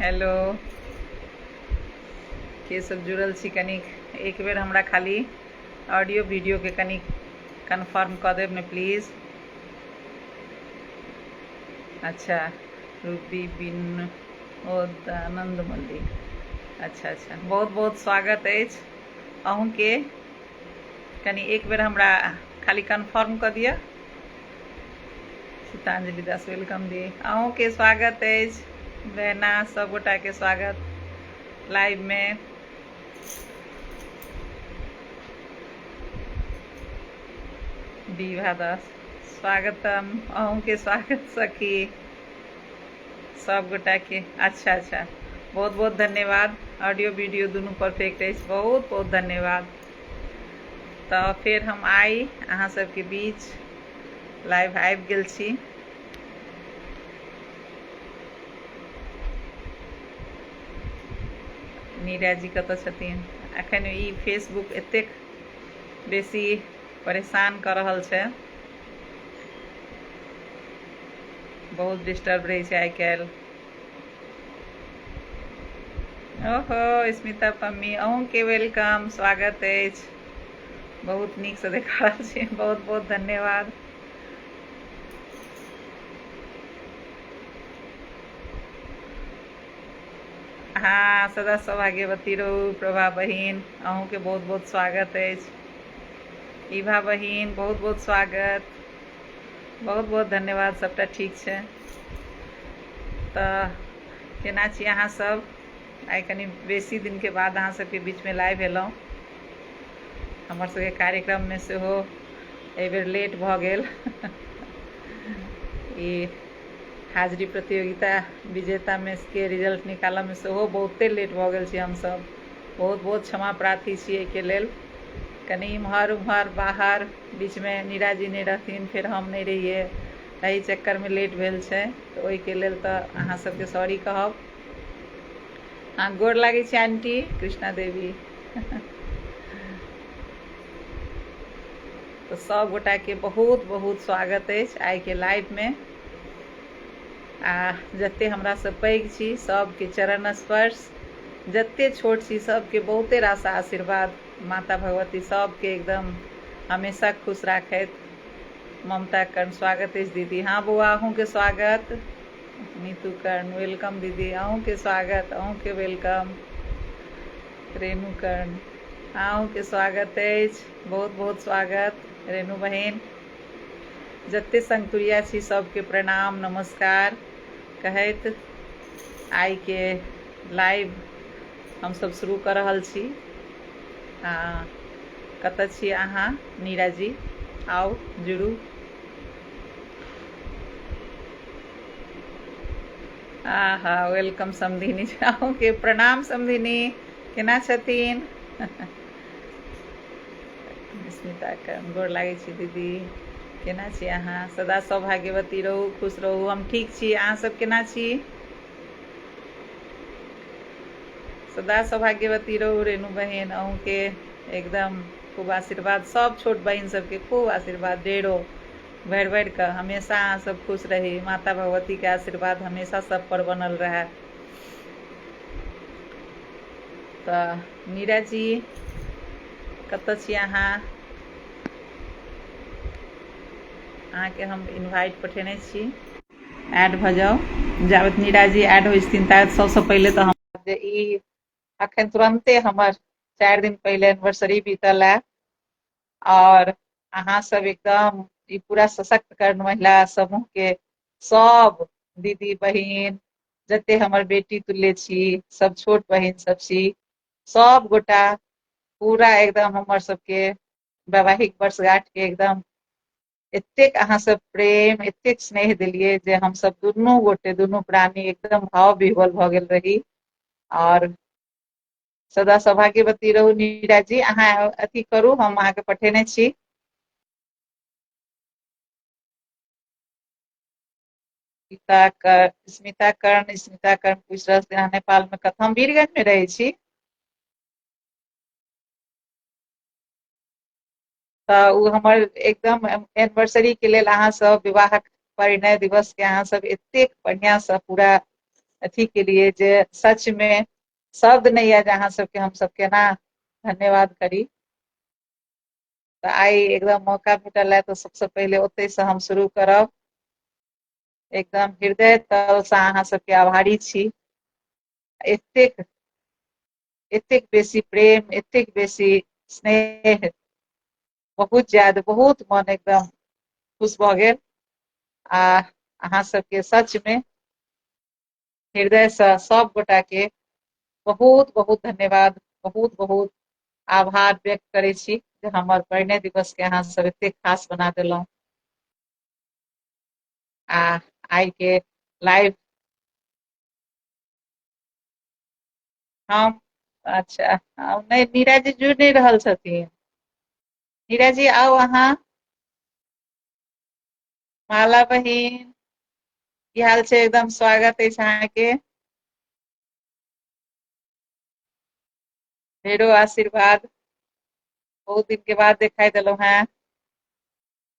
Hello के सब जुड़ल छी कनिक एक बेर हमरा खाली ऑडियो वीडियो के कनिक कन्फर्म कऽ देब ने प्लीज अच्छा रूपी बिन ओ आनंद मल्लिक अच्छा अच्छा बहुत बहुत स्वागत अछि अहूँके कनि एक बेर हमरा खाली कन्फर्म कऽ दिअ सीतांजलि दास वेलकम दी अहूँके स्वागत अछि बहना सभगोटाके स्वागत लाइवमे विभा दास स्वागतम अहूँके स्वागत सखी सभगोटाके अच्छा अच्छा बहुत बहुत धन्यवाद ऑडियो वीडियो दुनू परफेक्ट अछि बहुत बहुत धन्यवाद तऽ फेर हम आइ अहाँ सबके बीच लाइव आबि गेल छी नीरा जी कतऽ छथिन एखन ई फेसबुक एतेक बेसी परेशान कऽ रहल छै बहुत डिस्टर्ब रहै छै आइ काल्हि ओहो स्मिता पम्मी अहूँके वेलकम स्वागत अछि बहुत नीकसँ देखा रहल छी बहुत बहुत धन्यवाद हाँ सदा सौभाग्यवती रहू प्रभा बहिन अहूँके बहुत बहुत स्वागत अछि इभा बहिन बहुत बहुत स्वागत बहुत बहुत धन्यवाद सबटा ठीक छै तऽ केना छी अहाँ सब आइ कनि बेसी दिनके बाद अहाँ सबके बीचमे लाइव भेलहुँ हमर सबके कार्यक्रममे सेहो एहिबेर लेट भऽ गेल ई हाजिरी प्रतियोगिता विजेतामे के रिजल्ट निकालऽमे सेहो बहुते लेट भऽ गेल छी हमसब बहुत बहुत क्षमा प्रार्थी छी एहिके लेल कनि इम्हर उम्हर बाहर बीचमे नीरा जी नहि रहथिन फेर हम नहि रहियै एहि चक्कर में लेट भेल छै तऽ ओहिके लेल तऽ अहाँ सबके सॉरी कहब अहाँ गोर लागै छै आंटी कृष्णा देवी तऽ सब गोटा के बहुत बहुत स्वागत अछि आइ के लाइव में आ जते हमरा से पैघ छी सबके चरण स्पर्श जते छोट छी सबके बहुते रास आशीर्वाद माता भगवती सबके एकदम हमेशा खुश राखथि ममता कर्ण स्वागत अछि दीदी हाँ बौआ अहूँके स्वागत नीतू कर्ण वेलकम दीदी अहूँके स्वागत अहूँके वेलकम रेणु कर्ण हाँ अहूँके स्वागत अछि बहुत बहुत स्वागत रेणु बहिन जते संगतुरिया छी सबके प्रणाम नमस्कार कहैत आइके लाइव हमसभ शुरू कऽ रहल छी आ कतय छी अहाँ नीरा जी आउ जुड़ू आ हा वेलकम समधिनी अहूँके प्रणाम समधिनी केना छथिन स्मिताके गोर लागै छी दीदी केना छी अहाँ सदा सौभाग्यवती रहू खुश रहू हम ठीक छी अहाँसभ केना छी सदा सौभाग्यवती रहू रेणु बहिन अहूँके एकदम खूब आशीर्वाद सब छोट बहिन सबके खूब आशीर्वाद डेरो भरि भरि कऽ हमेशा अहाँ सब खुश रही माता भगवती के आशीर्वाद हमेशा सब पर बनल रहे तऽ मीरा जी कतऽ छी अहाँ अहाँके हम इनवाइट पठेने छी ऐड भऽ जाउ जाबत नीरा जी ऐड होइ छथिन ताबत सबसँ पहिले तऽ हम जे ई अखन तुरंते हमर चारि दिन पहिले एनिवर्सरी बीतल है और अहाँ सब एकदम ई पूरा सशक्त कर्ण महिला समूह के सब दीदी बहिन जते हमर बेटी तुल्य छी सब छोट बहिन सब छी सब गोटा पूरा एकदम हमर सबके वैवाहिक वर्षगांठ के एकदम एतेक अहाँ सब प्रेम एतेक स्नेह देलियै जे हमसब दुनू गोटे दुनू प्राणी एकदम भाव विह्वल भऽ गेल रही आओर सदा सौभाग्यवती रहू नीरा जी अहाँ अथी करू हम अहाँके पठेने छी स्मिता कर स्मिता कर्ण स्मिता कर्ण पूछ रहल छै अहाँ नेपाल में कतऽ हम वीरगंज में रहै छी तऽ ओ हमर एकदम एनिवर्सरी के लेल अहाँ सब विवाहक परिणय दिवस के अहाँ सब एतेक बढ़िया से पूरा अथी के लिए जे सच मे शब्द नहि यऽ जे अहाँ सबके हम सब केना धन्यवाद करी तऽ आइ एकदम मौका भेटल है तऽ सबसँ पहिले ओतहिसँ हम शुरू करब एकदम हृदय तलसँ अहाँ सबके आभारी छी एतेक एतेक बेसी प्रेम एतेक बेसी स्नेह बहुत ज्यादा बहुत मन एकदम खुश भऽ गेल आ अहाँ सबके सचमे हृदयसँ सब गोटाके बहुत बहुत धन्यवाद बहुत बहुत आभार व्यक्त करै छी जे हमर परिणय दिवसके अहाँ सब एतेक खास बना देलहुँ आ आइ के लाइव हम अच्छा हम नहि नीरज जी जुड़ि नहि रहल छथिन नीरज जी आउ अहाँ माला बहिन की हाल छै एकदम स्वागत अछि अहाँके ढेरो आशीर्वाद बहुत दिन के बाद देखाई देलहुं हैं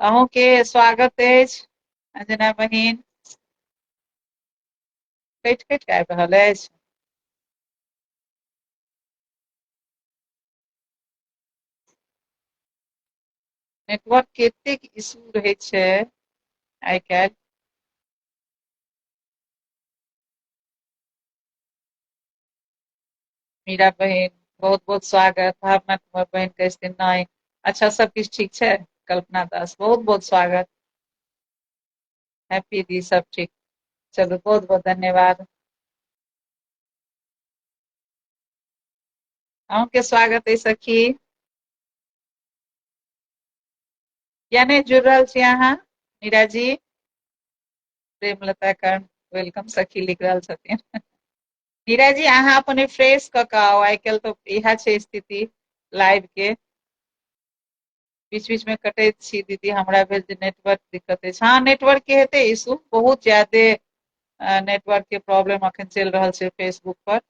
अहूँके स्वागत अछि अंजना बहिन कटि कटि कऽ आबि रहल अछि नेटवर्क के एतेक इशू रहै छै आइ काल्हि मीरा बहिन बहुत बहुत स्वागत भावना कुमार बहिन के दिन नाइन अच्छा सब किछु ठीक छै कल्पना दास बहुत बहुत स्वागत हैप्पी दी सब ठीक चलू बहुत बहुत धन्यवाद अहूँके स्वागत है सखी यानी जुड़ रहा छी अहाँ मीरा जी प्रेमलता का वेलकम सखी लिख रहल छथिन हीरा जी अहाँ अपन रिफ्रेश कऽ कऽ आउ आइ काल्हि तऽ इएह छै स्थिति लाइव के बीच बीच में कटैत छी दीदी हमरा भेल जे नेटवर्क दिक्कत अछि हँ नेटवर्क के हेतै इशू बहुत ज्यादे नेटवर्क के प्रॉब्लम अखन चलि रहल छै फेसबुक पर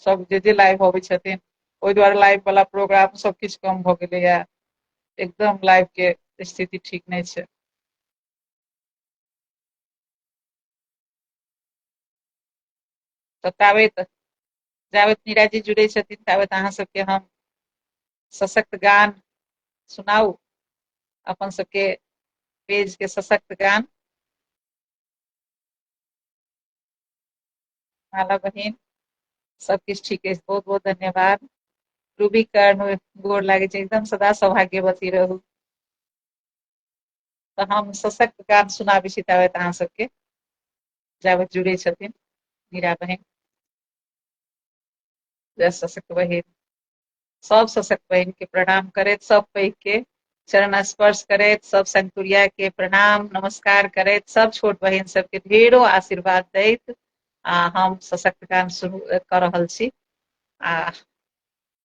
सब जे जे लाइव अबै छथिन ओहि दुआरे लाइव वाला प्रोग्राम सब किछु कम भऽ गेलैया एकदम लाइव के स्थिति ठीक नहि छै तऽ ताबैत जाबैत नीराजी जुड़ै छथिन ताबैत अहाँ सबके हम सशक्त गान सुनाउ अपन सबके पेज के सशक्त गान माला बहिन सब किछु ठीक अछि बहुत बहुत धन्यवाद रूबी कर्ण गोर लागै छै एकदम सदा सौभाग्यवती रहू तऽ हम सशक्त गान सुनाबै छी ताबे अहाँ सबके जाब जुड़े छथिन हीरा बहिन जय सशक्त बहिन सब सशक्त बहिन के प्रणाम करैत सब पैघ के चरण स्पर्श करैत सब संतुरिया के प्रणाम नमस्कार करैत सब छोट बहिन सबके ढेरो आशीर्वाद दैत आ हम सशक्त गान शुरू कऽ रहल छी आ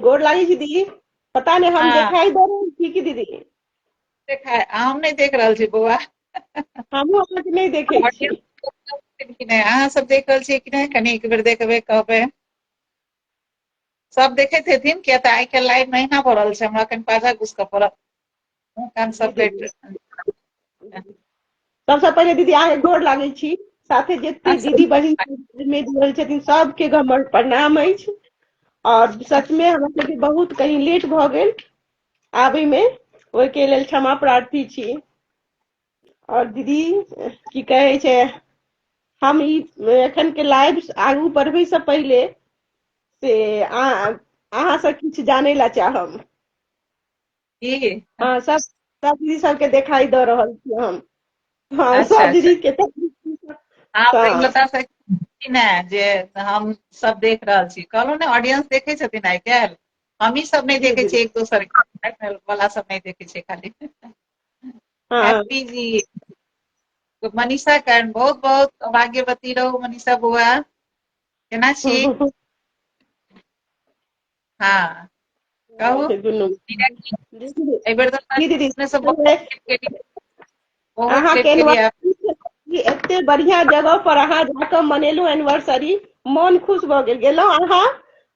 गोर लागे छी दीदी पता नहीं हम हाँ। देखाई दे रहे छी की दीदी देखा हम नहीं देख रहा छी बौआ हमहूँ अहाँके नहीं देखे छी कि नहीं अहाँ सब देख रहा छी कि नहीं कनी एक बेर देखबे कहबे सब देखे थे थीन क्या तो आई के लाइव नहीं ना पड़ल से हमरा कन पाजा घुस के पड़ल काम सब भेट सबसँ पहिले दीदी अहाँके गोर लागै छी साथे जते अच्छा। दीदी बहिन में जुड़ल छथिन सबके हमर प्रणाम अछि और सच में हमरा सबके बहुत कहीं लेट भऽ गेल आबै में ओहिके लेल क्षमा प्रार्थी छी और दीदी की कहै छै हम ई एखन के लाइव आगू बढ़बै से पहिले से अहाँ से किछु जानै ला चाहब की हाँ सब सब दीदी सबके देखाई दऽ रहल छी हम हाँ अच्छा, सब अच्छा। दीदी के तऽ आप हाँ। एक बता सकै छी ने जे हम सब देख रहल छी कहलहुँ ने ऑडियंस देखे छथिन आइ काल्हि हमही सब नहि देखे छी एक दोसर के वाला सब नहि देखे छै खाली हाँ हैप्पी जी तो मनीषा करण बहुत बहुत भाग्यवती रहो मनीषा बुआ केना छी हँ कहू दुनू एहि बेर एते बढ़िया जगह पर अहाँ जाके मनेलहुँ एनिवर्सरी मन खुश भऽ गेल गेलहुँ अहाँ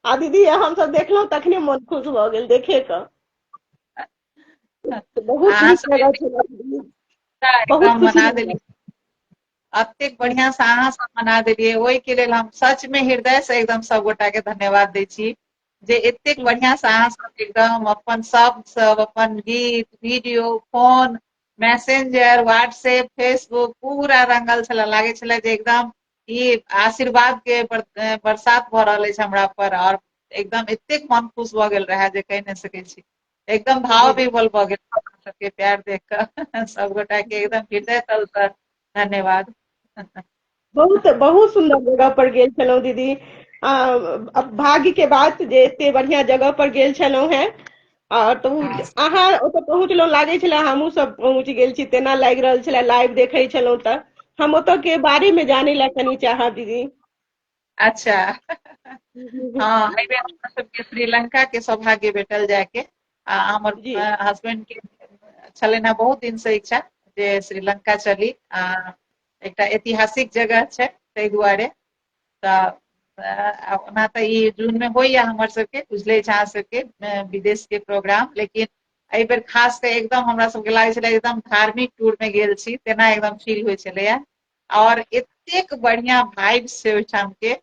आ दीदी हम सब देखलहुँ तखने मन खुश भऽ गेल देखे कऽ बहुत नीक जगह छै बहुत मना देली अतेक बढ़िया से अहाँ सब मना देलियै ओहि के लेल हम सच में हृदय से एकदम सब गोटा के धन्यवाद दै छी जे एतेक बढ़िया से अहाँ सब एकदम अपन सब सब अपन गीत video phone messenger WhatsApp Facebook पूरा रंगल छल लागे छल जे एकदम ई आशीर्वाद के बरसात भऽ रहल अछि हमरा पर और एकदम एतेक मन खुश भऽ गेल रहए जे कहि नहि सकैत छी एकदम भाव विमल भऽ गेल अपना सबके प्यार देख कऽ सबगोटा के एकदम हृदय तल से धन्यवाद बहुत बहुत सुंदर जगह पर गेल छलहुँ दीदी आ, अब भाग्य के बात जे एते बढ़िया जगह पर गेल छलहुँ हैं और तो अहाँ ओतऽ पहुँचलहुँ लागै छलै हमहूँ सब पहुँच गेल छी तेना लागि रहल छलै लाइव देखै छलहुँ तऽ हम ओतऽ के बारे में जानै लए कनि चाहब दीदी अच्छा हाँ एहि बेर हमरा सबके श्रीलंका के सौभाग्य भेटल जाय के आ हमर जी हस्बैंड के छलनि हेँ बहुत दिन से इच्छा जे श्रीलंका चली आ एकटा ऐतिहासिक जगह छै ताहि दुआरे तऽ अ, ओना तऽ ई जून मे होइया हमर सबके बुझले छै अहाँ सबके अ, विदेश के प्रोग्राम लेकिन एहि बेर खास कऽ एकदम हमरा सबके लागै छलै एकदम धार्मिक टूर मे गेल छी तेना एकदम फील होइ छलैया और एतेक बढ़िया भाइब से ओहिठाम के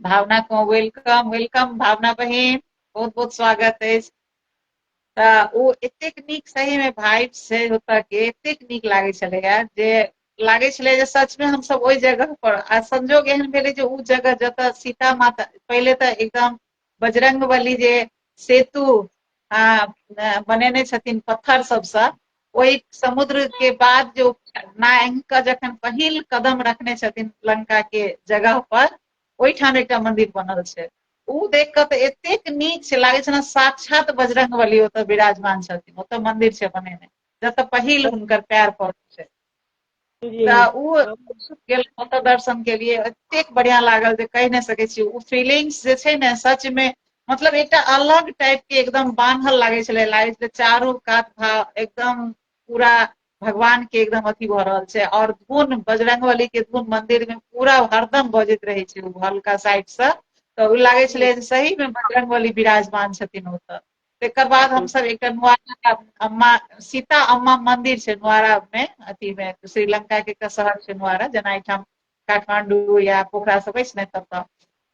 भावना को वेलकम वेलकम भावना बहिन बहुत बहुत स्वागत है तऽ ओ एतेक नीक सही में भाइब से होता के एतेक नीक लागे छले यार जे लागे छले जे सच में हम सब ओहि जगह पर आ संजोग एहन भेले जे ओ जगह जतऽ सीता माता पहले तऽ एकदम बजरंग बली जे सेतु बनेने छथिन पत्थर सबसँ ओहि समुद्र के बाद जो नारायण के जखन पहिल कदम रखने छथिन लंका के जगह पर ओहिठाम एकटा मंदिर बनल छै ओ देख कऽ तऽ एतेक नीक छै लागै छै ने साक्षात बजरंग बली ओतऽ विराजमान छथिन ओतऽ मंदिर छै बनेने जतऽ पहिल हुनकर पैर पड़ल छै तऽ ओ गेल ओतऽ दर्शन केलियै एतेक बढ़िया लागल जे कहि नहि सकै छी ओ फीलिंग्स जे छै ने सच मे मतलब एकटा अलग टाइप के एकदम बान्हल लागै छलै लागै छलै चारू कात भा एकदम पूरा भगवान के एकदम अथी भऽ रहल छै और धुन बजरंग बली के धुन मंदिर मे पूरा हरदम बजैत रहै छै ओ हल्का साइड से तऽ ओ लागै छलै जे सही मे बजरंग बली विराजमान छथिन ओतऽ तकर बाद हमसभ एकटा नुआरा अम्मा सीता अम्मा मंदिर छै नुआरा मे अथी मे श्रीलंका के एकटा शहर छै नुआरा जेना एहिठाम काठमांडू या पोखरा सब अछि ने ततऽ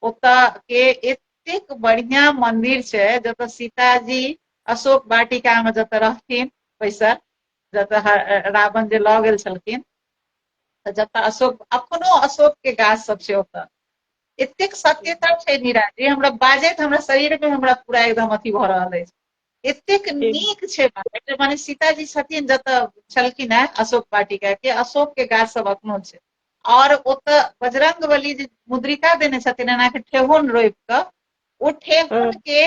ओतऽ के एतेक बढ़िया मंदिर छै जतऽ सीताजी अशोक वाटिका मे जतऽ रहथिन बैसल जतऽ ह- रावण जे लऽ गेल छलखिन तऽ जतऽ अशोक अखनो अशोक के गाछ सब छै ओतऽ एतेक सत्यता छै नीरा जे हमरा बाजैत हमरा शरीर में हमरा पूरा एकदम अथी भऽ रहल अछि एतेक नीक छै बात माने सीताजी छथिन जतऽ छलखिन हेँ अशोक वाटिका के अशोक के गाछ सब अखनो छै और ओतऽ बजरंग बली जे मुद्रिका देने छथिन एना के ठेहुन रोपि कऽ ओ ठेहुन के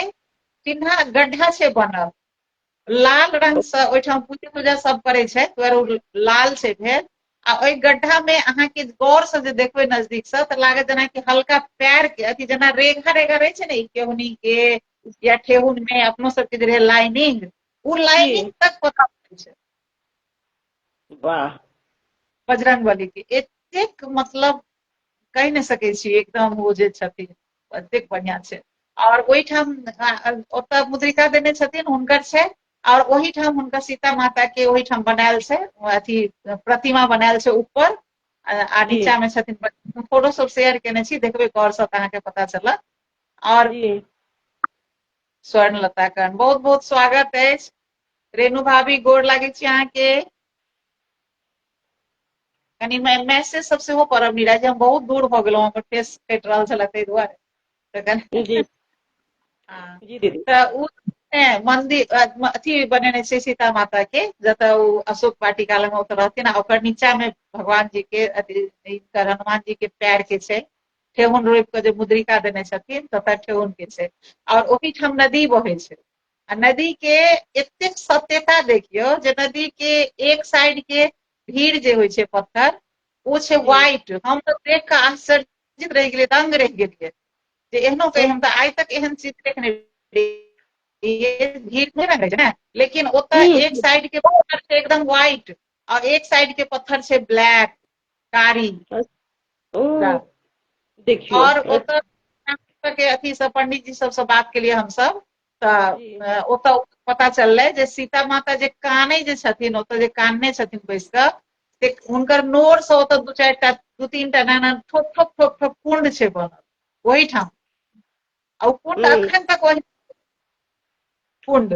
चिन्हा गड्ढा छै बनल लाल रंग से ओहिठाम पूजा तूजा सब करे छै दुआरे लाल छै भेल आ ओहि गड्ढा में अहाँ के गौर से जे देखबे नजदीक से तऽ लागत जेना कि हल्का पैर के अथी जेना रेखा रेखा रहे छै ने केहुनी के या ठेहुन में अपनो सबके जे रहे लाइनिंग ओ लाइनिंग तक पता पड़े छै वाह बजरंग बली के एतेक मतलब कहि नहि सकै छी एकदम ओ जे छथिन एतेक बढ़िआँ छै आओर ओहिठाम ओतऽ मुद्रिका देने छथिन हुनकर छै आओर ओहिठाम हुनकर सीता माता के ओहिठाम बनायल छै अथी प्रतिमा बनायल छै ऊपर आ नीचा मे छथिन फोटो सब शेयर केने छी देखबै गौर से अहाँके पता चलत आओर स्वर्ण लता करण बहुत बहुत स्वागत अछि रेणु भाभी गोर लागै छी अहाँके कनि मैसेज सब सेहो करब मीरा जे हम बहुत दूर भऽ गेलहुँ हमर फेस कटि रहल छलै ताहि दुआरे तखन जी हँ। जी दीदी तऽ ओ ने मंदिर अ, म- अथी बनेने छै सीता माता के जतऽ ओ अशोक वाटिका लग ओतऽ रहथिन आ ओकर नीचा मे भगवान जी के अथी हिनकर हनुमान जी के पैर के छै ठेहुन रोपि कऽ जे मुद्रिका देने छथिन ततऽ ठेहुन के छै आओर ओहिठाम नदी बहै छै आ नदी के एतेक सत्यता देखियो जे नदी के एक साइड के भीड़ जे होइ छै पत्थर ओ छै व्हाइट हम तो देख कऽ आश्चर्यचकित रहि गेलियै दंग रहि गेलियै जे एहनो कही हम तऽ आइ तक एहन चीज देखने रहियै भीड़ नहि रहे छै ने लेकिन ओतऽ एक साइड के पत्थर छै एकदम व्हाइट और एक साइड के पत्थर से ब्लैक कारी ओ देखियो और ओकर के अथी सब पंडित जी सब से बात के लिए हम सब तऽ ओतऽ पता चललै जे सीता माता जे कानै जे छथिन ओतऽ जे कानने छथिन बैस कऽ से हुनकर नोर से ओतऽ दू चारि टा दू तीन टा नाना ठोक ठोक ठोक ठोक कुंड छै बनल ओहिठाम आ ओ कुंड हम्म। अखन तक ओहि कुंड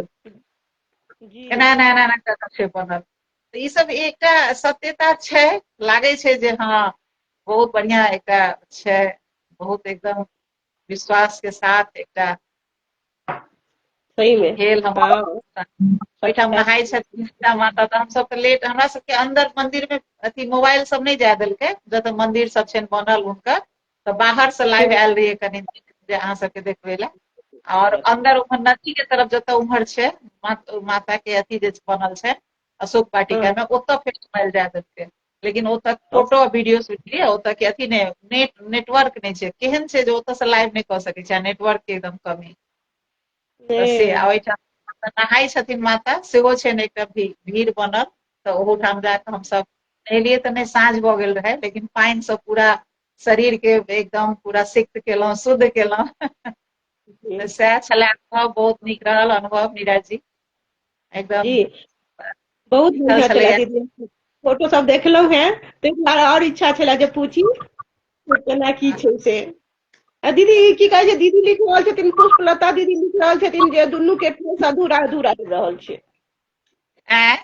जी एना एना एना एना कऽ कऽ छै बनल तऽ ई सब एकटा सत्यता छै लागै छै जे हँ बहुत बढ़िया एकटा छै बहुत एकदम विश्वास के साथ एकटा सही में भेल हम हाँ ओहिठाम नहाय छथिन सीता माता तऽ हमसभ तऽ लेट हमरा सबके अंदर मंदिर मे अथी मोबाइल सब नहि जाय देलकै जतऽ मंदिर सब छनि बनल हुनकर तऽ बाहर से लाइव आयल रहियै कनि जे अहाँ सबके देखबै लए और अंदर उम्हर नदी के तरफ जतऽ उम्हर छै मा- माता के अथी जे बनल छै अशोक वाटिका में ओतऽ फेर घुमायल जाय देलकै लेकिन ओतऽ फोटो आ वीडियो शूट के लिए ओतऽ के अथी नहि नेट नेटवर्क नहि छै केहन छै जे ओतऽ से लाइव नहि कऽ सकै छै नेटवर्क के एकदम कमी तऽ से आ ओहिठाम माता नहाय छथिन माता सेहो छै ने एकटा भी- भीड़ बनल तऽ ओहूठाम जाकऽ हमसब नहेलियै तऽ नहि साँझ भऽ गेल रहै लेकिन पानि से पूरा शरीर के एकदम पूरा सिक्त केलहुँ शुद्ध केलहुँ तऽ सएह छले अनुभव बहुत नीक रहल अनुभव मीरा जी एकदम जी बहुत अच्छा बढ़िया छलैया। छलै दीदी फोटो सब देखलहुँ हेँ ताहि दुआरे आओर इच्छा छलै जे पूछी जे केना की छै से आ दीदी ई की कहै छै दीदी लिख रहल छथिन पुष्पलता दीदी लिख रहल छथिन जे दुनू के फेस अधूरा अधूरा रहि रहल छै आँय?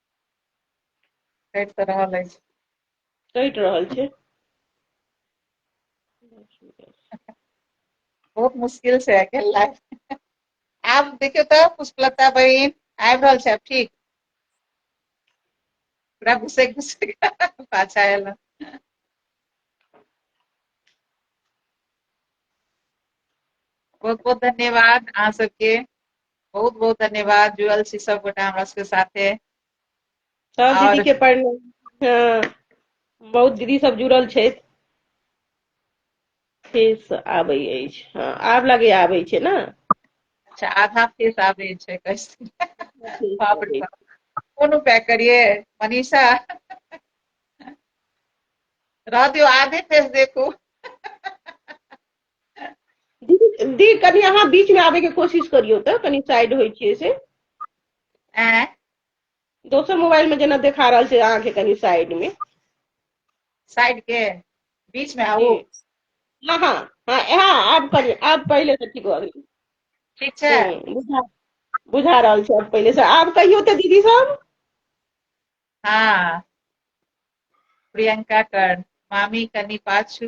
कटि तऽ रहल अछि कटि रहल छै बहुत मुश्किल से आइ गेल लाइफ आब देखियौ तऽ पुष्पलता बहिन आबि रहल छै आब ठीक पूरा घुसे घुसे पाछा आयल बहुत बहुत धन्यवाद अहाँ सबके बहुत बहुत धन्यवाद जुड़ल छी सब गोटा हमरा सबके साथे सब दीदी के प्रणाम हाँ, बहुत दीदी सब जुड़ल छथि फेस आबै अछि हाँ, आब लगे आबै छै ने अच्छा आधा फेस आबै छै कैसे बाप रे कोनो पैक करिए मनीषा रह दियो आधे फेस देखू दी कनी अहाँ बीच में आबे के कोशिश करियो त कनी साइड होय छियै से आँय दोसर मोबाइल में जेना देखा रहल छै अहाँ के कनी साइड में साइड के बीच में आबू जी। हाँ हाँ हाँ हाँ आब करियो आब पहिले से ठीक भऽ गेल ठीक छै हम्म, बुझा बुझा रहल छै आब पहिले से आब कहियो तऽ दीदी सब हाँ प्रियंका कर मामी कनी पाछू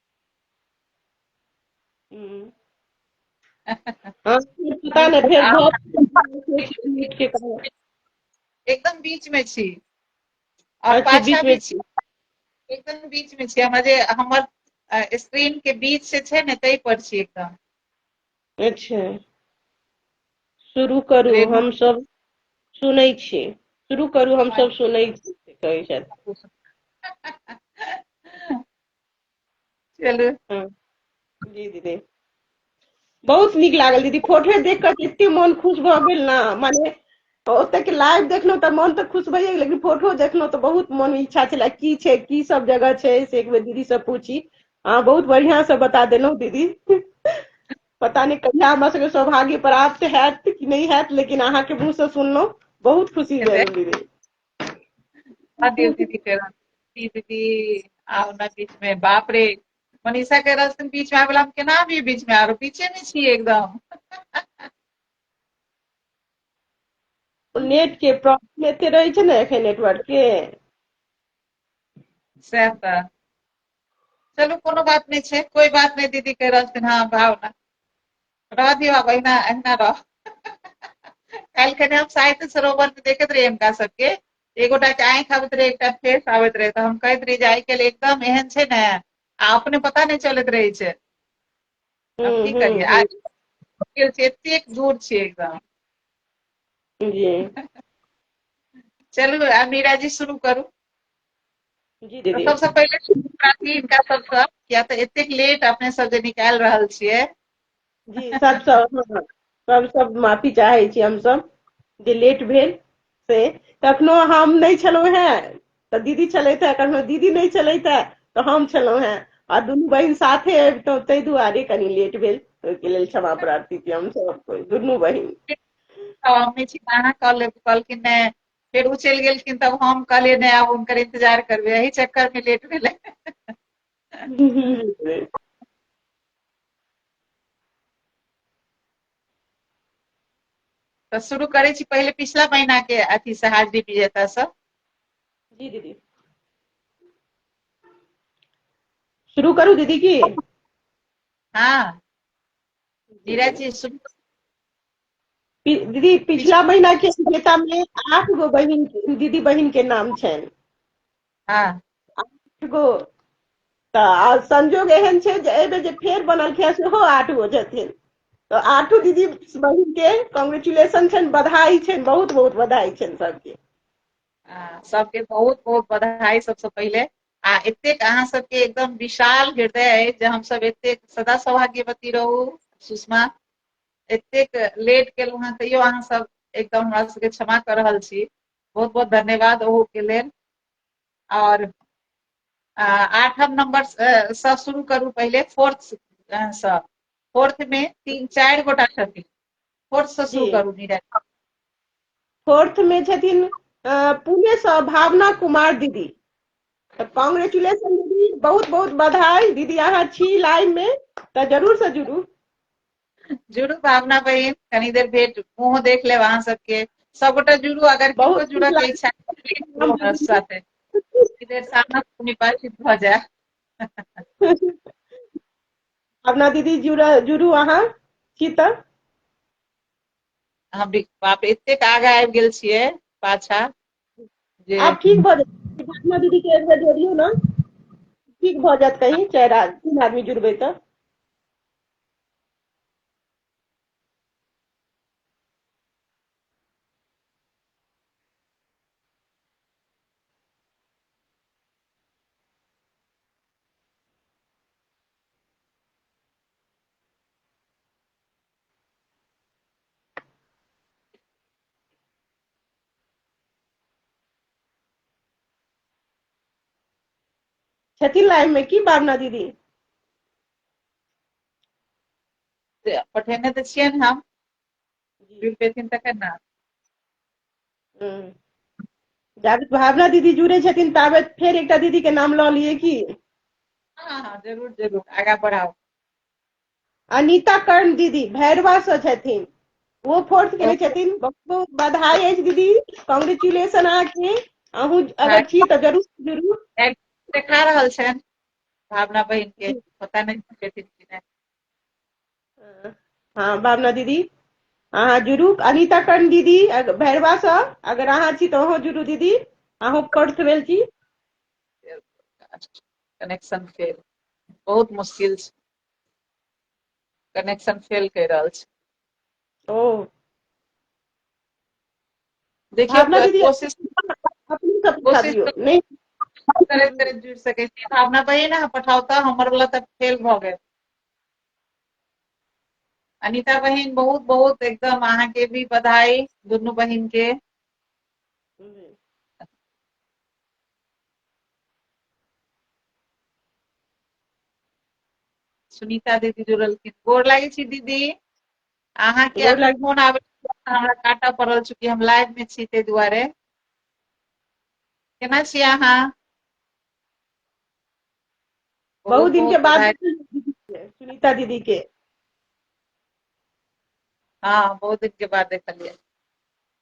पता नहि फेर एकदम बीच में छी और पाछा भी छी एकदम बीच में छी हमर जे हमर स्क्रीन के बीच से छै ने तै पर छी एकदम अच्छा शुरू करू हम सब सुनै छी शुरू करू हम सब सुनै छी कहै छथि चलू हँ। जी दीदी बहुत नीक लागल दीदी फोटो देख कऽ तऽ एते मोन खुश भऽ गेल ने माने ओतऽ के लाइव देखलहुँ तऽ मोन तऽ खुश भइए गेल लेकिन फोटो देखलहुँ तऽ बहुत मोन में इच्छा छला की छै की सब जगह छै से एक बेर दीदी से पूछी अहाँ बहुत बढ़ियां से बता देलहुँ दीदी पता नहि कहिया हमरा सबके सौभाग्य प्राप्त हैत कि नहि हैत लेकिन अहाँके मुँह से सुनलहुँ बहुत खुशी भेल दीदी हँ दियौ दीदी के रंग की दीदी आउ ने बीच मे बाप रे मनीषा के रस्म बीच मे आबेला हम केना आबी बीच मे आरो पीछे मे छियै एकदम नेट के प्रॉब्लम एते रहै छै ने एखन नेटवर्क के सएह तऽ चलू कोनो बात नहि छै कोई बात नहि दीदी के रस्म हँ भावना रह दियौ आब अहिना अहिना रह काल्हि कने हम साहित्य सरोवर में देखैत रही हिनका सबके एगोटा के आँखि आबैत रहे एकटा फेस आबैत रहे तऽ हम कहैत रही जे आइ काल्हि एकदम एहन छै ने आ अपने पता नहि चलैत रहै छै हम की करियै आ गेल छी एतेक दूर छी एकदम जी चलू आ मीरा जी शुरू करू जी दीदी सबसँ पहिले शुभरात्रि हिनका सबसँ किया तऽ एतेक लेट अपने सब जे निकालि रहल छियै जी सबसँ हम सब माफी चाहै छी हम सब जे लेट भेल से कखनो हम नहि छलहुँ हैं तऽ दीदी छलथि है कखनो दीदी नहि छलथि है तऽ हम छलहुँ हैं आ दुनू बहिन साथे अबितहुँ ताहि दुआरे कनि लेट भेल ओहिके लेल क्षमा प्रार्थी छी हम सब दुनू बहिन कहलखिन फिर ओ चलि गेलखिन तब हम कहलियै नहि आब हुनकर इंतजार करबै एहि चक्कर में लेट भेलै तऽ शुरू करै छी पहिले पिछला महीना के अथी से हाजिरी विजेता सब जी दीदी शुरू करू दीदी की हाँ नीरज जी शुरू दीदी पिछला महीना के विजेता में आठ गो बहिन दीदी बहिन के नाम छनि हाँ आठ गो तऽ आ संजोग एहन छै जे एहिमे जे फेर बनलखिन हँ सेहो आठ गो छथिन तऽ आठो दीदी बहिन के कॉन्ग्रेचुलेशन छनि बधाई छनि बहुत बहुत बधाई छनि सबके आ, सबके बहुत बहुत बधाई सबसे पहिले आ एतेक अहाँ सबके एकदम विशाल हृदय अछि जे हम सब एतेक सदा सौभाग्यवती रहू सुषमा एतेक लेट केलहुँ हेँ तैयो अहाँ सब एकदम हमरा सबके क्षमा कऽ रहल छी बहुत बहुत धन्यवाद ओहूके लेल आओर आठम नंबर से शुरू करू पहिले फोर्थ से फोर्थ में तीन चारि गोटा छथिन फोर्थ से शुरू करू नीरज फोर्थ में छथिन पुणे से भावना कुमार दीदी कॉन्ग्रेचुलेशन दीदी बहुत बहुत बधाई दीदी अहाँ छी लाइव में तो जरूर से जुड़ू जुड़ू भावना बहिन कनी देर भेट मुंह देख लेब अहाँ सबके सबगोटा जुड़ू अगर बहुत जुड़ऽ के इच्छा हमरा साथे देर सामना निपाचित भऽ जाय अपना दीदी जुड़ा जुड़ू अहाँ छी तऽ हम बाप एतेक आगा आबि गेल छियै पाछा जे आब ठीक भऽ जेतै फातिमा दीदी के एक बेर जोड़ियौ ने ठीक भऽ जायत कहीं चारि आदमी तीन आदमी जुड़बै तऽ छथिन लाइव में की भावना दीदी पठेने तऽ छियनि हम जुड़ि पेथिन तखन ने जाबे भावना दीदी जुड़े छथिन ताबे फेर एकटा दीदी के नाम लऽ लिए की हाँ हाँ जरूर जरूर आगा बढ़ाओ अनिता कर्ण दीदी भैरवासँ छथिन ओ फोर्थ केने छथिन बहुत बहुत बधाई अछि दीदी कॉन्ग्रेचुलेशन अहाँके अहूँ अगर छी तऽ जरूर जरूर देखा रहल छनि भावना बहिन के पता नहि छथिन कि नहि हँ भावना दीदी अहाँ जुड़ू अनिता कर्ण दीदी अग- भैरवासँ अगर अहाँ छी तऽ अहूँ जुड़ू दीदी अहूँ फोर्थ भेल छी कनेक्शन फेल बहुत मुश्किल छै कनेक्शन फेल कहि रहल छै ओ देखियौ भावना दीदी कोशिश अपने सब उठा कोशिश दियौ तो- नहि करैत करैत जुड़ि सकै छी भावना बहिन ने पठाउ तऽ हमर वाला तऽ फेल भऽ गेल अनिता बहिन बहुत बहुत एकदम अहाँके भी बधाई दुनू बहिन के सुनीता दीदी जुड़लखिन गोर लागै छी दीदी अहाँके गोर लागै- फोन आबै हमरा काटऽ पड़ल चूँकि हम लाइव में छी ताहि दुआरे केना छी अहाँ बहुत दिन के बाद बधाई। देखल दीदी के, सुनीता दीदी के हाँ बहुत दिन के बाद देखलियै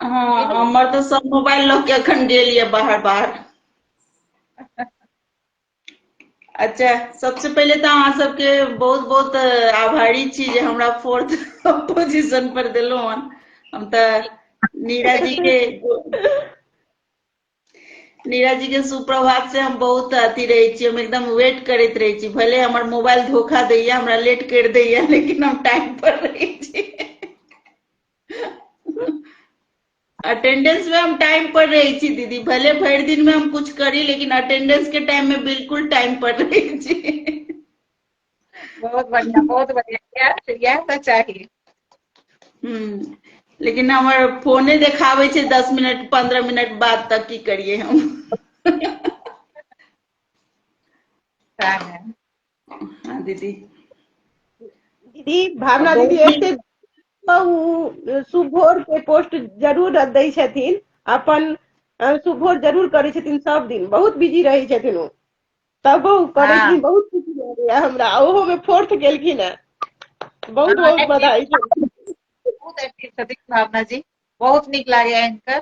हँ हमर तऽ सब मोबाइल लऽ के एखन गेल ये बाहर बाहर अच्छा सबसे पहिले तऽ अहाँ सबके बहुत बहुत अ, आभारी छी जे हमरा फोर्थ पोजीशन पर देलहुँ हन हम तऽ नीरा जी के नीरज जी के सुप्रभात से हम बहुत अथी रहे छी हम एकदम वेट करते रहे छी भले हमारे मोबाइल धोखा दैय हमरा लेट कर दैय लेकिन हम टाइम पर रहे छी अटेंडेंस में हम टाइम पर रहे छी दीदी भले भर दिन में हम कुछ करी लेकिन अटेंडेंस के टाइम में बिल्कुल टाइम पर रहे छी बहुत बढ़िया बहुत बढ़िया इएह इएह तऽ चाही हम्म, लेकिन हमर फोने देखाबै छै दस मिनट पंद्रह मिनट बाद तक की करिए हम सएह है। हाँ दीदी दीदी भावना दीदी एते उ सुभोर के पोस्ट जरूर दै छथिन अपन अ, सुभोर जरूर करै छथिन सब दिन बहुत बिजी रहै छथिन ओ तब करै हँ बहुत खुशी लगैया हमरा ओहो मे फोर्थ गेलखिन है बहुत बहुत हँ, बधाई बहुत एक्टिव छथिन भावना जी बहुत नीक लागे एंकर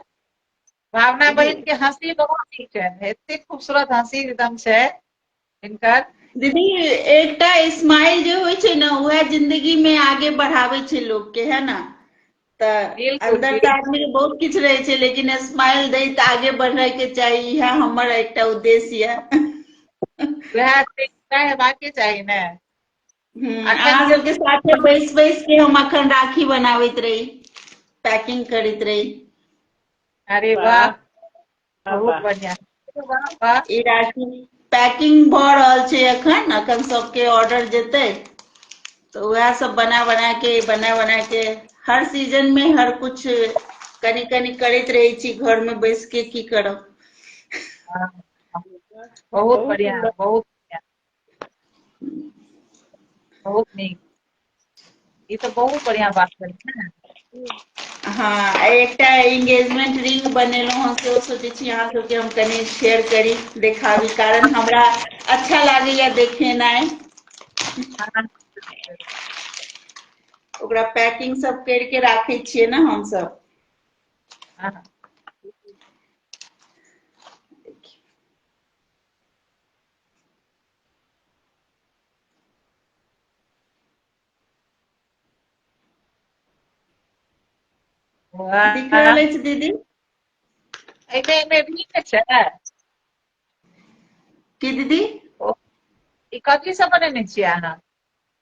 भावना बहन के हंसी बहुत नीक छनि एते खूबसूरत हंसी एकदम छै इनकर दीदी एकटा स्माइल जे होइ छै ने उएह जिंदगी में आगे बढ़ावे छै लोग के है ना तऽ अंदर तऽ आदमी के बहुत किछु रहे छै लेकिन स्माइल दैत आगे बढ़े के चाही इएह हमर एकटा उद्देश्य ये वएह हेबाक के चाही ने हम्म, अहाँ सबके साथे बैस बैस के हम अखन राखी बनाबैत रही पैकिंग करैत रही अरे वाह बहुत बढ़िया ई राखी पैकिंग भऽ रहल छै एखन एखन सबके ऑर्डर जेतै तऽ उएह सब बना बना के बना बना के हर सीजन में हर कुछ कनी कनी करैत रहै छी घर में बैस के की करब बहुत बढ़िया बहुत बढ़िया बहुत नीक ई तऽ बहुत बढ़िया बात भेल हँ एकटा एंगेजमेंट रिंग बनेलहुँ हँ सेहो सोचै छी अहाँ सबके हम कनि शेयर करी देखाबी कारण हमरा अच्छा लागैया देखेनाइ हँ ओकरा पैकिंग सब कर के राखे छियै ने हमस हँ की कहल अछि दीदी एहिमे एहिमे भी ने छै की दीदी ओ ई कथी सब बनेने छियै अहाँ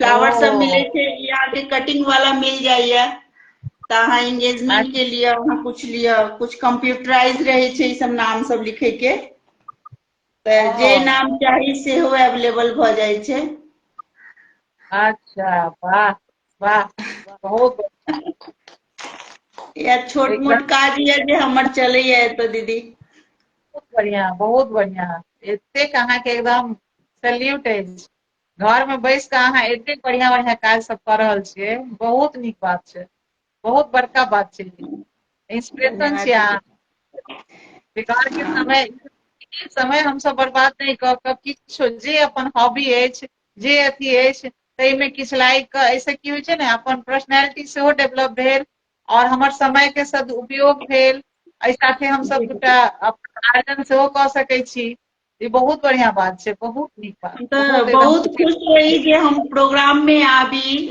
फ्लावर सब मिले छै यहाँ के कटिंग वाला मिल जाइए तो अहाँ एंगेजमेंट के लिए अहाँ कुछ लिए कुछ कंप्यूटराइज रहे छै ई सब नाम सब लिखे के तो जे नाम चाही से हो अवेलेबल भ जाय छै अच्छा वाह वाह बहुत या छोट मोट काज ये जे हमर चले ये तो दीदी बहुत बढ़िया बहुत बढ़िया एतेक अहाँ के एकदम सैल्यूट अछि घर में बैस कऽ अहाँ एते बढ़िया बढ़िया काज सब कऽ रहल छियै बहुत नीक बात छै बहुत बड़का बात छै इंस्पिरेशन छियै अहाँ बेकार के समय समय हम सब बर्बाद नहि कऽ कऽ किछो जे अपन हॉबी अछि जे अथी अछि ताहिमे किछु लागि कऽ एहिसँ की होइ छै ने अपन पर्सनैलिटी सेहो डेवलप भेल आओर हमर समयके सदुपयोग भेल एहि साथे हमसभ दूटा अपन आर्जन सेहो कऽ सकैत छी ई बहुत बढ़िया बात छै बहुत नीक बात तऽ बहुत खुश रही जे हम प्रोग्राम में आबी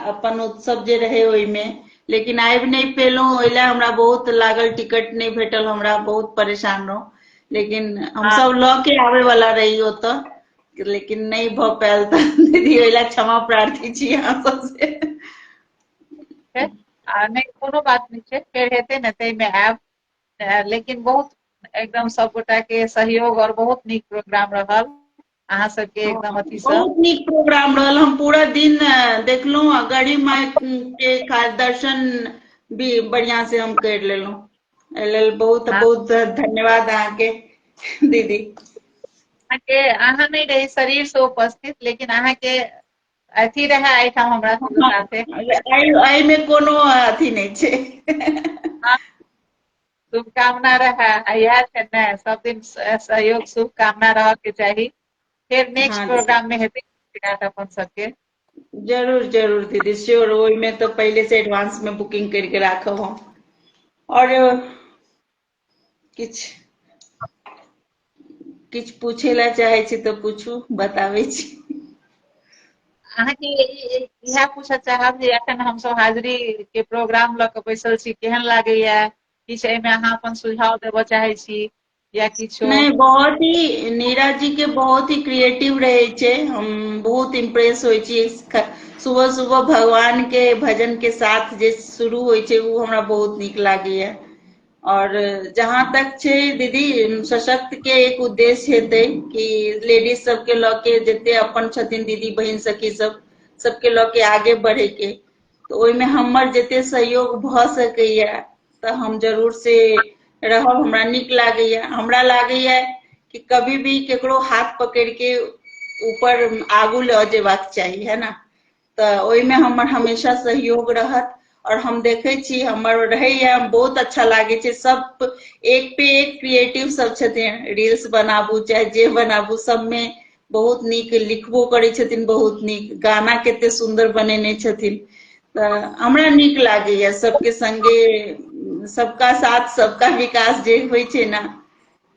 अपन उत्सव जे रहे ओहि में लेकिन आबि नहीं पेलो ओहि लए हमरा बहुत लागल टिकट नहीं भेटल हमरा बहुत परेशान रहूँ लेकिन हम हाँ। सब लऽ के आबे वाला रही ओत लेकिन नहीं भ पायल तऽ दीदी ओहि लए क्षमा प्रार्थी छी अहाँ सबसे आ नहि कोनो बात नहि छै फेर हेतै ने ताहिमे आयब लेकिन बहुत एकदम सब गोटा के सहयोग और बहुत नीक प्रोग्राम रहल अहाँ सबके एकदम अथी सब बहुत नीक प्रोग्राम रहल हम पूरा दिन देखलहुँ आ गढ़ी माय के का- दर्शन भी बढ़िया से हम कर लेलहुँ एहि लेल बहुत बहुत धन्यवाद अहाँके दीदी अहाँके अहाँ नहीं रही शरीर से उपस्थित लेकिन अहाँके अथी रहै एहिठाम हमरा साथे एहिमे कोनो अथी नहि छै हाँ, शुभकामना रहै इएह छै ने सब दिन सहयोग शुभकामना रहऽ के चाही फेर नेक्स्ट हाँ, प्रोग्राम में हेतै अपन सबके जरूर जरूर दीदी श्योर ओहिमे तो पहले से एडवांस में बुकिंग करके राखब हम और किछु किछु पूछे ला चाहे छी तऽ पूछू बताबै छी अहाँके इएह पूछऽ चाहब जे एखन हमसभ हाजिरी के प्रोग्राम लऽ कऽ बैसल छी केहन लागैया किछु एहिमे अहाँ अपन सुझाव देबऽ चाहै छी या किछो नहीं बहुत ही नीरा जी के बहुत ही क्रिएटिव रहे छे हम बहुत इम्प्रेस होय छी सुबह सुबह भगवान के भजन के साथ जे शुरू होय छे उ हमरा बहुत नीक लागेया और जहां तक छै दीदी सशक्त के एक उद्देश्य हेतै कि लेडीज सबके लऽ के जते अपन छथिन दीदी बहिन सखी सब सबके लऽ के आगे बढ़े के तऽ ओहिमे हमर जते सहयोग भऽ सकैया तऽ हम जरूर से रहब हमरा नीक लागैया हमरा लागैया कि कभी भी केकरो हाथ पकड़ के ऊपर आगू लऽ जेबाक चाही है ना तऽ ओहिमे हमर हमेशा सहयोग रहत और हम देखे छी हमर रहैया हम बहुत अच्छा लागे छै सब एक पे एक क्रिएटिव सब छथिन रील्स बनाबू चाहे जे बनाबू सबमे बहुत नीक लिखबो करै छथिन बहुत नीक गाना कते सुन्दर बनेने छथिन तऽ हमरा नीक लागैया सबके संगे सबका साथ सबका विकास जे होइ छै ने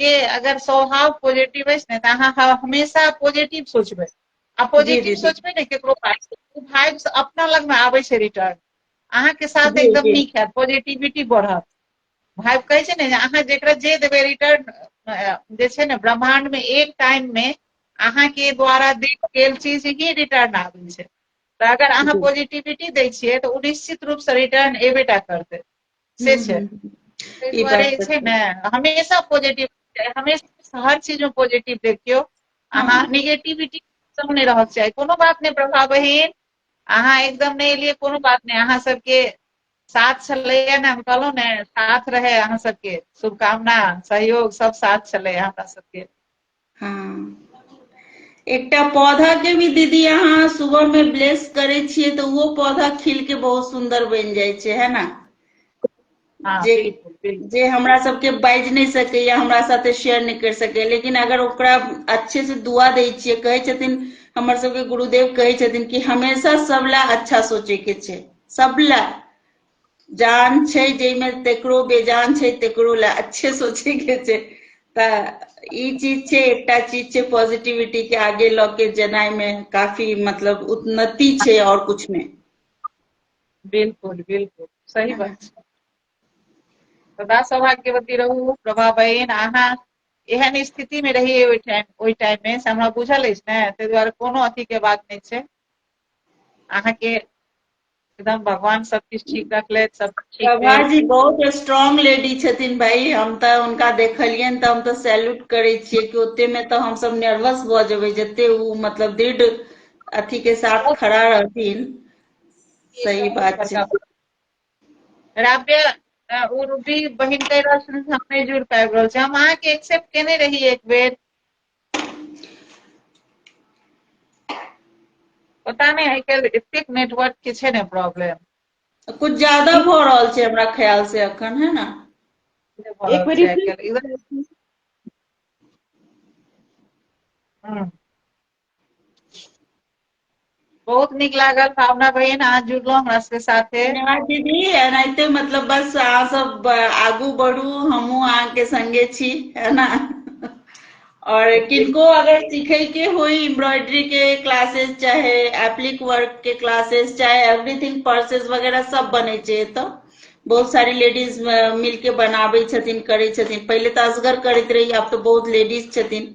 के अगर स्वभाव पॉजिटिव अछि ने तऽ अहाँ हमेशा पॉजिटिव सोचबै आ पॉजिटिव सोचबै ने केकरो पास ओ भाइब अपना लग में आबै छै रिटर्न अहाँके साथ एकदम नीक है पॉजिटिविटी बढ़त भाइब कहै छै ने अहाँ जेकरा जे देबै रिटर्न जे छै ने ब्रह्मांड में एक टाइम में अहाँ के द्वारा देल गेल चीज ही रिटर्न आबै छै तऽ अगर अहाँ पॉजिटिविटी दै छियै तऽ ओ निश्चित रूप से रिटर्न एबेटा करतै से हम्म, छै हम्म, हम्म। ताहि ई दुआरे बात तऽ छै ने हमेशा पॉजिटिव हमेशा हर चीज मे पॉजिटिव देखियौ अहाँ हँ निगेटिविटी सब नहि रहक चाही कोनो बात नहि प्रभा बहिन अहाँ एकदम नहि एलियै कोनो बात नहि अहाँ सबके साथ छलैया ने हम कहलहुँ ने साथ रहै अहाँ सबके शुभकामना सहयोग सब साथ छलै हमरा सबके हँ एकटा पौधा के भी दीदी अहाँ सुबह में ब्लेस करे छियै तऽ ओहो पौधा खिल के बहुत सुंदर बनि जाइ छै है ना हाँ जे बिल्कुल बिल्कुल जे हमरा सबके बाजि नहि सकैए हमरा साथे शेयर नहि करि सकैए लेकिन अगर ओकरा अच्छे से दुआ दै छियै कहै छथिन हमर सबके गुरुदेव कहै छथिन कि हमेशा सब ला अच्छा सोचे के छै सब ला जान छै जाहिमे तेकरो बेजान छै तेकरो लए अच्छे सोचे के छै तऽ ई चीज छै एकटा चीज छै पॉजिटिविटी के आगे लऽ के जेनाइ मे काफी मतलब उन्नति छै और कुछ में बिल्कुल बिल्कुल सही बात छै सदा सौभाग्यवती रहू प्रभा बहन अहाँ एहन स्थिति में रहिए ओहि टाइम ओहि टाइम में से हमरा बुझल अछि ने ताहि दुआरे कोनो अथी के बात नहि छै अहाँके एकदम भगवान सब किछु ठीक रखले सब ठीक प्रभा भेल। जी बहुत स्ट्रांग लेडी छथिन भाई हम तऽ हुनका देखलियनि तऽ हम तऽ सैल्यूट करै छियै कि ओते मे तऽ हम सब नर्वस भऽ जेबै जते उ मतलब दृढ़ अथी के साथ बहुत खड़ा रहथिन ई सही बहुत बात छै बड़का बात। राब्य अ, ओ रूबी बहिन कहि रहल छथिन हम नहि जुड़ पाबि रहल छी हम अहाँके एक्सेप्ट केने रही एक बेर पता नहि आइ काल्हि एतेक नेटवर्क के छै ने प्रॉब्लम कुछ ज्यादा भ रहल छै हमरा ख्याल से अखन है ना एक बेर रिफ्रेश बहुत नीक लागल भावना बहिन अहाँ जुड़लहुँ हमरा सबके साथे धन्यवाद दीदी एनाहिते मतलब बस अहाँ सब आगू बढ़ू हमहूँ अहाँके संगे छी है ना और किनको अगर सीखे के हो एम्ब्रॉयडरी के क्लासेस चाहे एप्लिक वर्क के क्लासेस चाहे एवरीथिंग पर्सेस वगैरह सब बने छे तो बहुत सारी लेडीज मिलके बनाबे छथिन करे छथिन पहले तो असगर करते रही अब तो बहुत लेडीज छथिन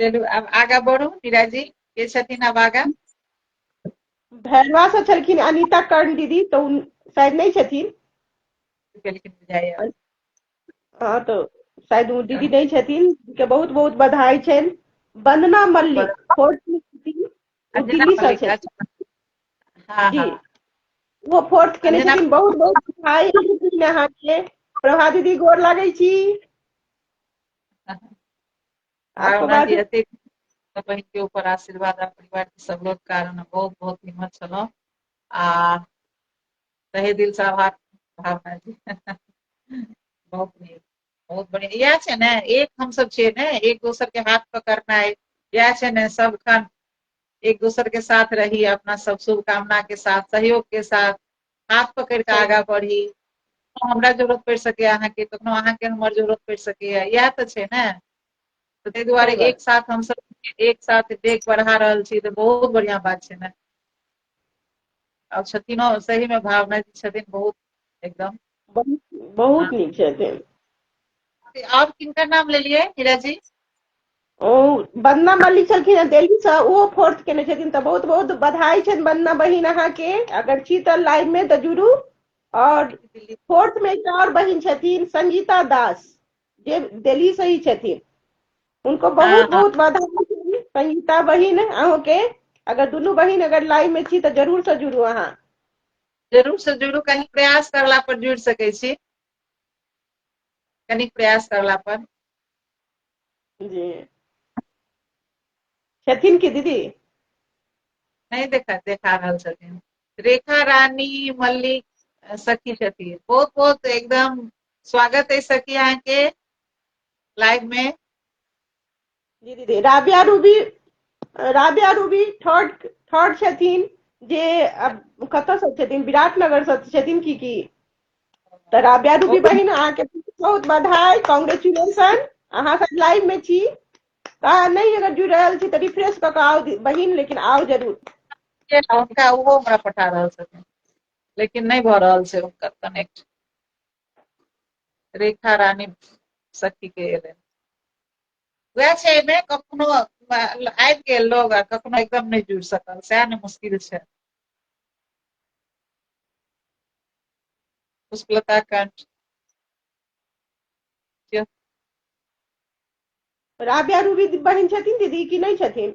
चलू आब आगा बढ़ू मीरा जी के छथिन आब आगा भैरवा से छलखिन अनिता कर्ण दीदी तो उन शायद नहीं छथिन गेलखिन बुझाइया हाँ तो शायद वो दीदी नहीं छथिन के बहुत बहुत बधाई छन वंदना मल्लिक फोर्थ में छथिन वो अंजना दिल्ली से मलिक, छथिन अच्छा। हाँ जी हाँ वो फोर्थ केने अंजना- छथिन बहुत बहुत बधाई छथिन अहाँके प्रभा दीदी गोर लागै छी बहिन के ऊपर आशीर्वाद आ परिवार के सब लोग कारण बहुत बहुत निमन छलहुँ आ तहे दिल से आभार भावना जी बहुत नीक बहुत बढ़िया इएह छै ने एक हमसब छियै ने एक दोसर के हाथ पकड़नाइ इएह छै ने सबखन एक दोसर के साथ रही अपना सब शुभकामना के साथ सहयोग के साथ हाथ पकड़ कऽ आगाँ बढ़ी हमरा जरूरत पड़ि सकैए अहाँके कखनो अहाँके हमर जरूरत पड़ि सकैए इएह तऽ छै ने तऽ ताहि दुआरे एक साथ हमसभ एक साथ डेग बढ़ा रहल छी तऽ बहुत बढ़िआँ बात छै ने आ छथिनो सहीमे भावना जी छथिन बहुत एकदम बहुत बहुत नीक छथिन आओर किनकर नाम लेलियै हीरा जी ओ बन्ना मल्लिक छलखिन हेँ दिल्लीसँ ओहो फोर्थ केने छथिन तऽ बहुत बहुत बधाई छनि बन्ना बहिन अहाँके अगर छी तऽ लाइवमे तऽ जुड़ू आओर फोर्थमे एकटा आओर बहिन छथिन संगीता दास जे दिल्लीसँ ही छथिन हुनको बहुत बहुत बधाई छनि संगीता बहिन अहूँके अगर दुनू बहिन अगर लाइवमे छी तऽ जरूरसँ जुड़ू अहाँ जरूरसँ जुड़ू कनि प्रयास करला पर जुड़ि सकै छी कनिक प्रयास करला पर जी छथिन की दीदी नहीं देखा देखा रहल छथिन रेखा रानी मल्लिक अ, सखी छथिन बहुत बहुत एकदम स्वागत है सखी अहाँ के लाइव में दीदी दीदी राबिया रूबी राबिया रूबी थर्ड थर्ड छथिन जे कतऽ से छथिन विराटनगर से छथिन की की तऽ राबिया रूबी बहिन अहाँके बहुत बधाई कॉन्ग्रेचुलेशन अहाँ सब लाइव में छी तऽ नहीं अगर जुड़ रहा छी तऽ रिफ्रेश कऽ के आओ बहिन लेकिन आओ जरूर हुनका ओहो हमरा पठा रहल छथिन लेकिन नहीं भऽ रहल छै हुनकर कनेक्ट रेखा रानी सखी के एलनि वएह छै एहिमे कखनो आबि गेल लोग आ कखनो एकदम नहि जुड़ि सकल सएह ने मुश्किल छै पुष्पलता कंठ राबिया रूबी बहन छथिन दीदी कि नहि छथिन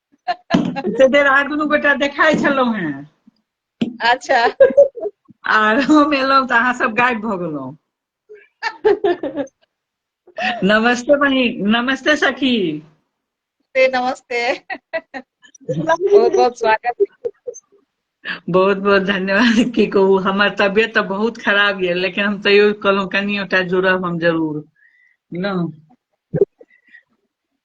एते देर अहाँ दुनू गोटा देखाइ छलहुँ हेँ अच्छा आर हम एलहुँ तऽ अहाँ सब गायब भऽ गेलहुँ नमस्ते बहिन नमस्ते सखी नमस्ते नमस्ते बहुत बहुत स्वागत बहुत बहुत धन्यवाद की कहू हमर तबियत तऽ बहुत खराब यऽ लेकिन हम तैयो कहलहुँ कनियोटा जुड़ब हम जरूर ने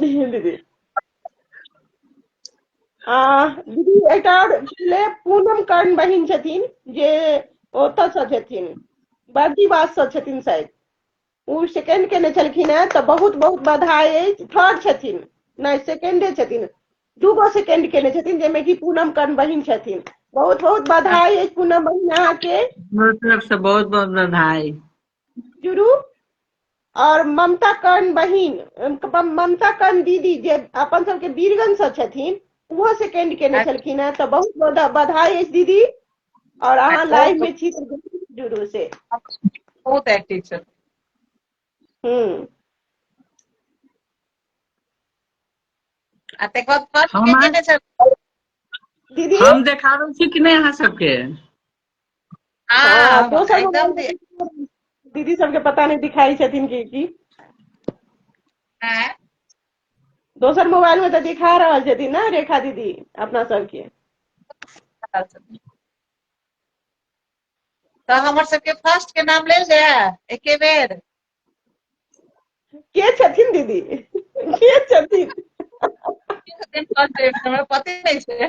দিদি दीदी एक पहले पूनम कर्ण बहन छथिन जे ओतऽ से छथिन बर्दीवास से छथिन शायद ओ सेकेंड केने छलखिन है तऽ बहुत बहुत बधाई है थर्ड छथिन नहीं सेकेंडे छथिन दूगो सेकेंड केने छथिन जाहिमे कि पूनम कर्ण बहन छथिन बहुत बहुत बधाई है पूनम बहन अहाँके बहुत बहुत बधाई जुड़ू और ममता कर्ण बहिन ममता कर्ण दीदी जे अपन सबके बीरगंज से छथिन ओहो सेकेंड केने अच्छा। छलखिन है तो बहुत बहुत बधाई है दीदी और अहाँ लाइव अच्छा। में छी तो जुड़ू से बहुत एक्टिव छथिन हम्म हम देखाबै छी कि नहि अहाँ सबके हाँ, हाँ, दोसर एकदम दे- मोबाइल दीदी सबके पता नहीं दिखाई छथिन की की हाँ, दोसर मोबाइल में तो दिखा रहल छथिन ना रेखा दीदी अपना सबके तो हमर सबके फर्स्ट के नाम ले जाए एके बेर के छथिन दीदी के छथिन केहू दिन first day में हमरा पते नहीं छे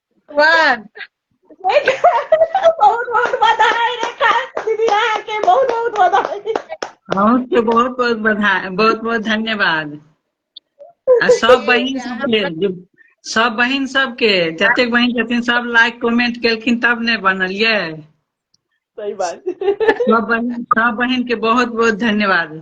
भगवान बहुत बहुत बधाई रेखा दीदी अहाँ के बहुत बहुत बधाई अहूँके बहुत बहुत बधाई बहुत बहुत धन्यवाद आ सब बहिन सबके जे- सब बहिन सबके जतेक बहिन छथिन सब लाइक कमेंट केलखिन तब ने बनलियै सही बात सब बहिन सब बहिन के बहुत बहुत धन्यवाद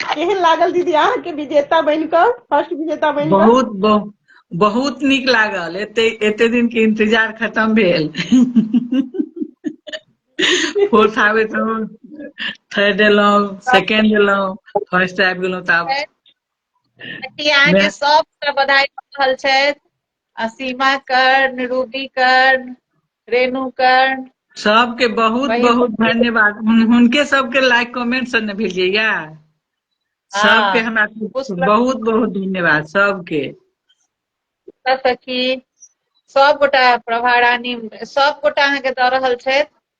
केहन लागल दीदी अहाँके विजेता बनि कऽ फर्स्ट विजेता बनि कऽ बहुत बहु- बहुत नीक लागल एते एते दिन के इंतजार खत्म भेल फोर्थ आबे तो थर्ड एलहुँ सेकेंड एलहुँ फर्स्ट आबि गेलहुँ तऽ आब अहाँके मेहनत- सबके बधाई दऽ रहल छथि असीमा कर्ण रूबी कर्ण रेणु कर्ण सबके बहुत वही- बहुत धन्यवाद हुन- हुनके सबके लाइक कमेंट सब ने भेजिए या सबके हमरा पुष्प- बहुत बहुत धन्यवाद सबके पुष्पा सखी सब गोटा प्रभा रानी सब गोटा अहाँ के दऽ रहल छथि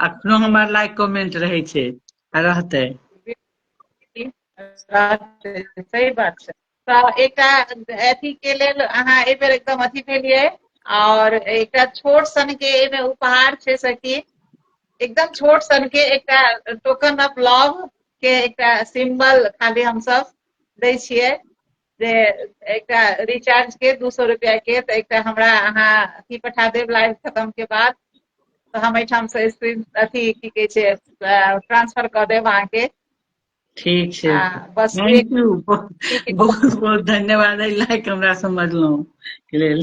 अखनो हमर लाइक कमेंट रहै छै आ रहतै सही बात छै तऽ एकटा अथी के लेल अहाँ एहि बेर एकदम अथी भेलियै और एकटा छोट सन के एहिमे उपहार छै सखी एकदम छोट सन के एकटा टोकन ऑफ लव के एकटा सिंबल खाली हम सब दै छियै जे एकटा रिचार्ज के दू सौ रुपया के तऽ एकटा हमरा अहाँ अथी पठा देब लाइव खतम के बाद तऽ हम एहिठाम से स्क्रीन अथी की कहै छै ट्रांसफर कऽ देब अहाँके ठीक छै आ बस एक थैंक यू बहुत बहुत धन्यवाद एहि लायक हमरा समझलहुँ के लेल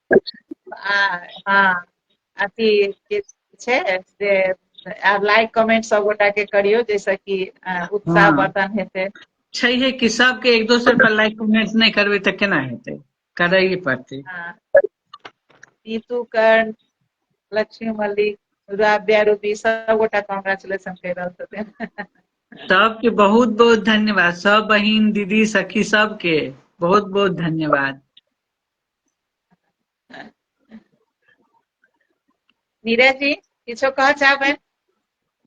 आ हँ अथी जे छै से आ लाइक कमेंट सब गोटा के करियौ जैसे कि अ, उत्साह हँ। वर्धन हेतै छैहे कि सबके एक दोसर पर लाइक कमेंट नहि करबै तऽ केना हेतै करैए पड़तै हँ। नीतू कर्ण लक्ष्मी मल्लिक राब्या रूबी सब गोटा कॉन्ग्रेचुलेशन कहि रहल छथिन सबके बहुत बहुत धन्यवाद सब बहिन दीदी सखी सबके बहुत बहुत धन्यवाद नीरजी किछो कह चाहबै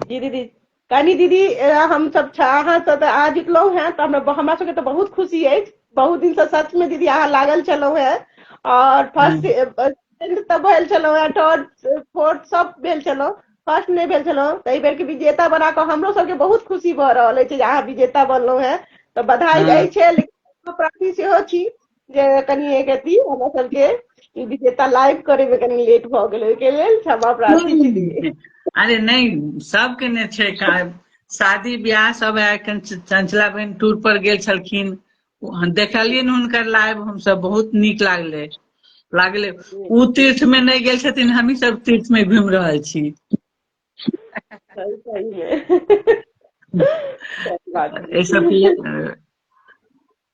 जी दीदी कनी दीदी हम सब अहाँ सब अहाँ जितलहुँ हैं तऽ हमरा हमरा सबके तऽ बहुत खुशी है बहुत दिन से सच में दीदी अहाँ लागल छलहुँ हैं और फर्स्ट सेकंड तऽ भेल छलहुँ हैं थर्ड फोर्थ सब भेल छलहुँ फर्स्ट नहीं भेल छलहुँ तऽ एहि बेरके विजेता बना कऽ हमरो सबके बहुत खुशी भऽ रहल अछि जे अहाँ विजेता बनलहुँ हैं तऽ बधाई अछि लेकिन प्रार्थी सेहो छी जे कनि एक अथी हमरा सबके ई विजेता लाइव करे में कनि लेट भ गेल ओहिके लेल क्षमा प्रार्थी दीदी अरे नहीं सबके ने छै का- शादी ब्याह सब है एखन च- चंचला बहन टूर पर गेल छलखिन ओ- हम देखलियन हुनकर लाइव हमसब बहुत नीक लागले लागले उ तीर्थ में नहीं गेल छथिन हमही सब तीर्थ में घूम रहल छी सही सही में सही बात है। ऐ सब के-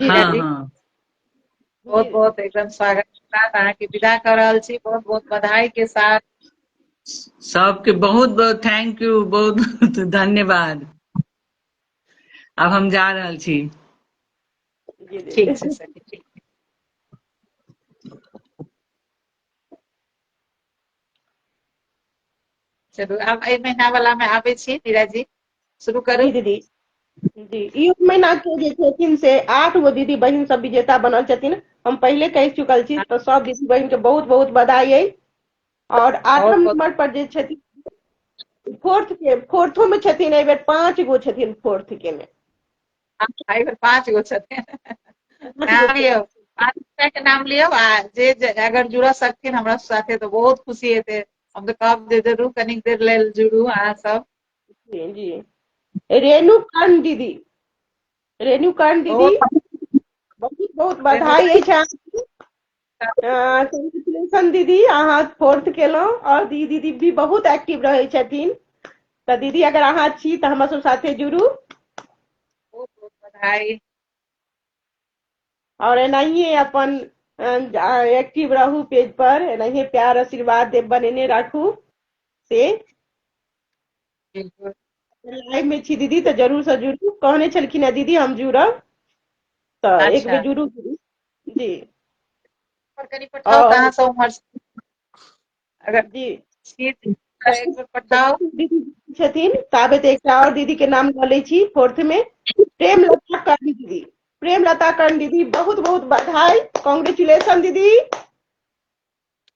हँ हँ बहुत बहुत एकदम स्वागत के साथ अहाँके विदा कऽ रहल छी बहुत बहुत बधाई के साथ सबके बहुत बहुत थैंक यू बहुत बहुत धन्यवाद अब हम जा रहल छी जी जी ठीक छै सखी ठीक चलू आब एहि महीना वाला में आबे छी नीरा जी शुरू करू दीदी जी ई महीना के जे छथिन से आठ गो दीदी बहन सब विजेता बनल छथिन हम पहले कह चुकल छी तो सब दीदी बहन के बहुत बहुत बधाई है और आठम नंबर पर जे छथिन फोर्थ के फोर्थो में छथिन एहि बेर पांच गो छथिन फोर्थ के में एहि बेर पाँच गो छथिन नाम लियौ पाँच गोटा के नाम लियौ आ जे जे- अगर जुड़ऽ सकथिन हमरा साथे तऽ बहुत खुशी हेतै हम तऽ कहब जे जरूर कनिक देर लेल जुड़ू अहाँ सब जी जी रेणु कर्ण दीदी रेणु कर्ण दीदी बहुत बहुत बहुत बहुत बधाई अछि अहाँके कॉन्ग्रेचुलेशन दीदी अहाँ फोर्थ केलहुँ आओर दी दीदी भी बहुत एक्टिव रहै छथिन तऽ दीदी अगर अहाँ छी तऽ हमरा सब साथे जुड़ू बहुत बहुत बधाई आओर एनाहिए अपन एक्टिव रहू पेज पर एनाहिए प्यार आशीर्वाद दे- बनेने राखू से बिल्कुल लाइव में छी दीदी तऽ जरूर से जुड़ू कहने छलखिन है दीदी हम जुड़ब तऽ एक अच्छा बेर जुड़ू दीदी जी पर कनि पठाउ आओर- कहाँ से उम्हर से। अगर जी छी तऽ एक बेर पठाउ दीदी छथिन ताबे तऽ एकटा आओर दीदी के नाम लऽ लै छी फोर्थ में प्रेम लता कर्ण दीदी प्रेम लता कर्ण दीदी बहुत बहुत बधाई कॉन्ग्रेचुलेशन दीदी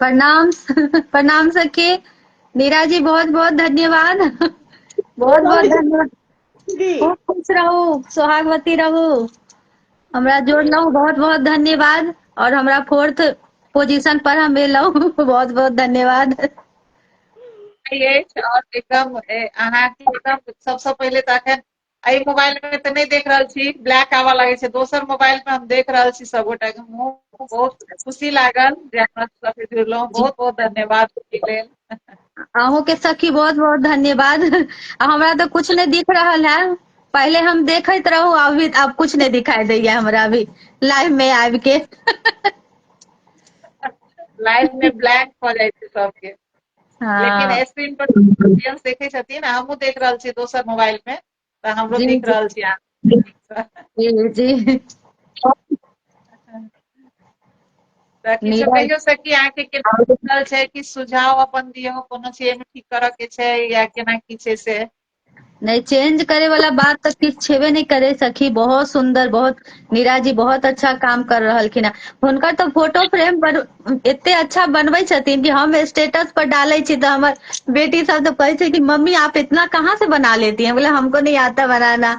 प्रणाम प्रणाम सखी नीरा जी बहुत बहुत धन्यवाद बहुत बहुत धन्यवाद खूब खुश रहू सुहागवती रहू हमरा जोड़लहुँ बहुत बहुत धन्यवाद और हमरा फोर्थ पोजीशन पर हम एलहुँ बहुत बहुत धन्यवाद अछि और एकदम अहाँके एकदम सबसँ पहिले तऽ अखन एहि मोबाइल में तो नहीं देख रहा छी ब्लैक आवा लगे छे दोसर मोबाइल में हम देख रहा छी सब गोटा के मुंह बहुत खुशी लागल जे हमरा सब से जुड़लो बहुत बहुत धन्यवाद लेल अहूँ के सखी बहुत बहुत धन्यवाद हमरा तो कुछ नहीं दिख रहा है पहले हम देखत रहू अभी अब कुछ नहीं दिखाई दे हमरा अभी लाइव में आब के लाइव में ब्लैक हो जाए सबके हाँ। लेकिन स्क्रीन पर ऑडियंस देखे छथिन आ हमहूँ देख रहल छी दोसर मोबाइल में तऽ हमरो जी दिख जी रहल छी अहाँ जी जी तऽ किछो नीरज कहियौ सखी अहाँके केना आओर बुझल छै किछ सुझाव अपन दियौ कोनो छै एहिमे ठीक करऽ के छै या केना की छै से नहि चेंज करे वाला बात तऽ किछु छेबे नहि करे सखी बहुत सुंदर बहुत नीरा जी बहुत अच्छा काम कर रहलखिन हँ हुनकर तऽ फोटो फ्रेम बन एते अच्छा बनबै छथिन कि हम स्टेटस पर डालै छी तऽ हमर बेटी सब तऽ कहै छै कि मम्मी आप इतना कहाँ से बना लेती हैं बोले हमको नहीं आता बनाना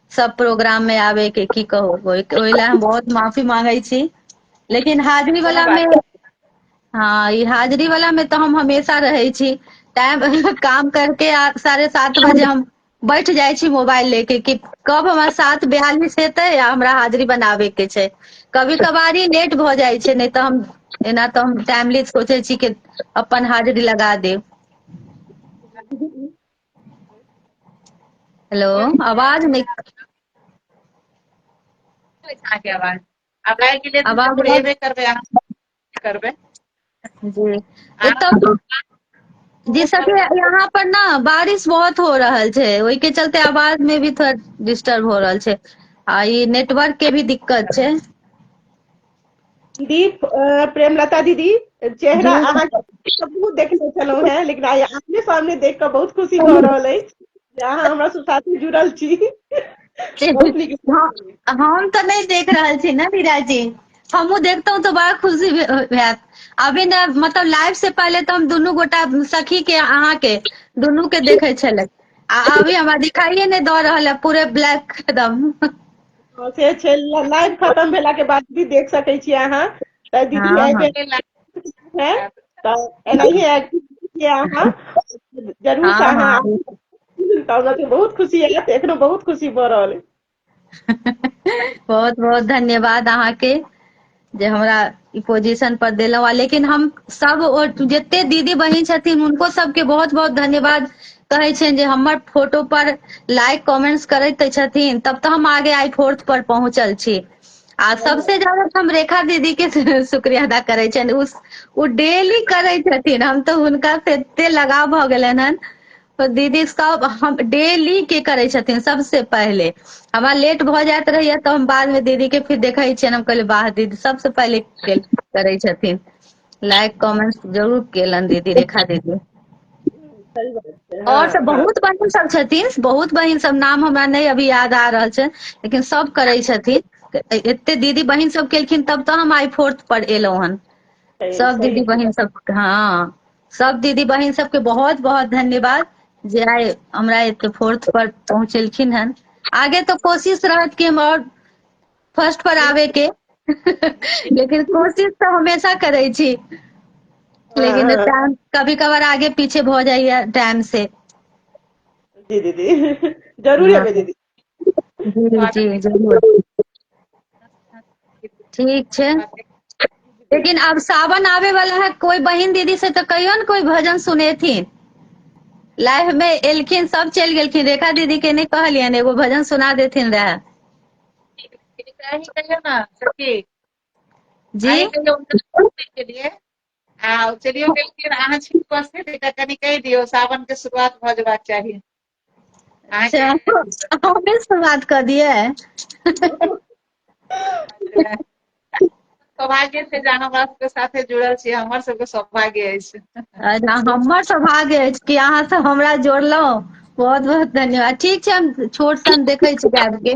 सब प्रोग्राम मे आबे के की कहू ओहि ओहि लए हम बहुत माफी मांगै छी लेकिन हाजिरी कोनो वला बात मे नहि हँ ई हाजिरी वला मे तऽ हम हमेशा रहै छी टाइम काम करके आ साढ़े सात बजे हम बैठ जाइ छी मोबाइल लेके कि कब हमरा साथ बयालिस हेतै आ हमरा हाजिरी बनाबे के छै कभी कभार ही लेट भऽ जाइ छै नहि तऽ हम एना तऽ हम टाइमली सोचै छी कि अपन हाजिरी लगा देब हेलो आवाज नहि अहाँके आवाज आब लागि गेलै तऽ आवाज जरूर अयबे करबै अहाँ करबै जी एतऽ जी सखी यहाँ पर ना बारिश बहुत हो रहल छै ओहि के चलते आवाज में भी थोड़ा डिस्टर्ब हो रहल छै आ ई नेटवर्क के भी दिक्कत छै दीप प्रेमलता दीदी चेहरा अहाँके बहुत देखने छलहुँ हेँ लेकिन आइ आमने सामने देख कऽ बहुत खुशी भऽ रहल अछि जे अहाँ हमरा साथे जुड़ल छी हम तऽ नहि देख रहल छी ने वीरा जी हमहूँ देखतहुँ तऽ बड़ा खुशी होयत अभी ने मतलब लाइव से पहले तो हम दुनू गोटा सखी के अहाँ के दुनू के देखे छल आ अभी हमारा दिखाइए नहीं दऽ रहा है पूरे ब्लैक एकदम से छै लाइव खत्म भेला के बाद भी देख सकै छी अहाँ तऽ दीदी हाँ, एहि हाँ। बेर लाइव है तऽ एनाहिए एक्टिव छियै अहाँ जरूर हाँ, से अहाँ हाँ। आबू। तऽ हमरा सबके बहुत खुशी आयत एखनो बहुत खुशी भऽ रहल अइ बहुत बहुत धन्यवाद अहाँके जे हमरा ई पोजीशन पर देलहुँ लेकिन हम सब ओ जते दीदी बहिन छथिन हुनको सबके बहुत बहुत धन्यवाद कहै छनि जे हमर फोटो पर लाइक कमेंट्स करैत छथिन तब तऽ हम आगे आई फोर्थ पर पहुंचल छी आ सबसे ज्यादा हम रेखा दीदी के शुक्रिया अदा करै छनि उस ओ डेली करै छथिन हम तऽ हुनका से एते लगाव भऽ गेलनि हन तऽ दीदी सब हम डेली के करै छथिन सबसँ पहिले हमरा लेट भऽ जाइत रहैया तऽ हम बाद मे दीदी के फिर देखै छियनि हम कहलियै वाह दीदी सबसँ पहिले के- करै छथिन लाइक कमेंट जरूर केलनि दीदी रेखा दीदी सही बात छै और हँ, सब बहुत बहिन सब छथिन बहुत बहिन सब नाम हमरा नहि अभी याद आ रहल छै लेकिन सब करै छथिन ए- एते दीदी बहिन सब केलखिन तब तऽ हम आइ फोर्थ पर एलहुं हन सही- सब सही दीदी बहिन सब हँ सब दीदी बहिन सबके बहुत बहुत धन्यवाद जे आइ हमरा एते फोर्थ पर पहुंचेलखिन हन आगे तो कोशिश रहत कि हम और फर्स्ट पर आवे के लेकिन कोशिश तो हमेशा करे छी लेकिन हाँ। टाइम कभी कभार आगे पीछे भ जाइए टाइम से जी दीदी जरूर हाँ। आबे दीदी जी जी जरूर ठीक छै लेकिन अब सावन आवे वाला है कोई बहन दीदी से तो कहियो ने कोई भजन सुनेथिन लाइफ में एलखिन सब चल गेलखिन रेखा दीदी के नहीं कहलियन एगो भजन सुना देथिन रहे जी चलियो गेलखिन अहाँ छी उपस्थित एकटा कनि कहि दियौ सावन के शुरुआत भऽ जबाक चाही अच्छा हमे से बात कर दिए सौभाग्य छै जे अहाँ हमरा सबके साथे जुड़ल छी हमर सबके सौभाग्य अछि अच्छा हमर सौभाग्य अछि कि अहाँ से हमरा जोड़लहुँ बहुत बहुत धन्यवाद ठीक छै हम छोट सन देखै छी गाबि के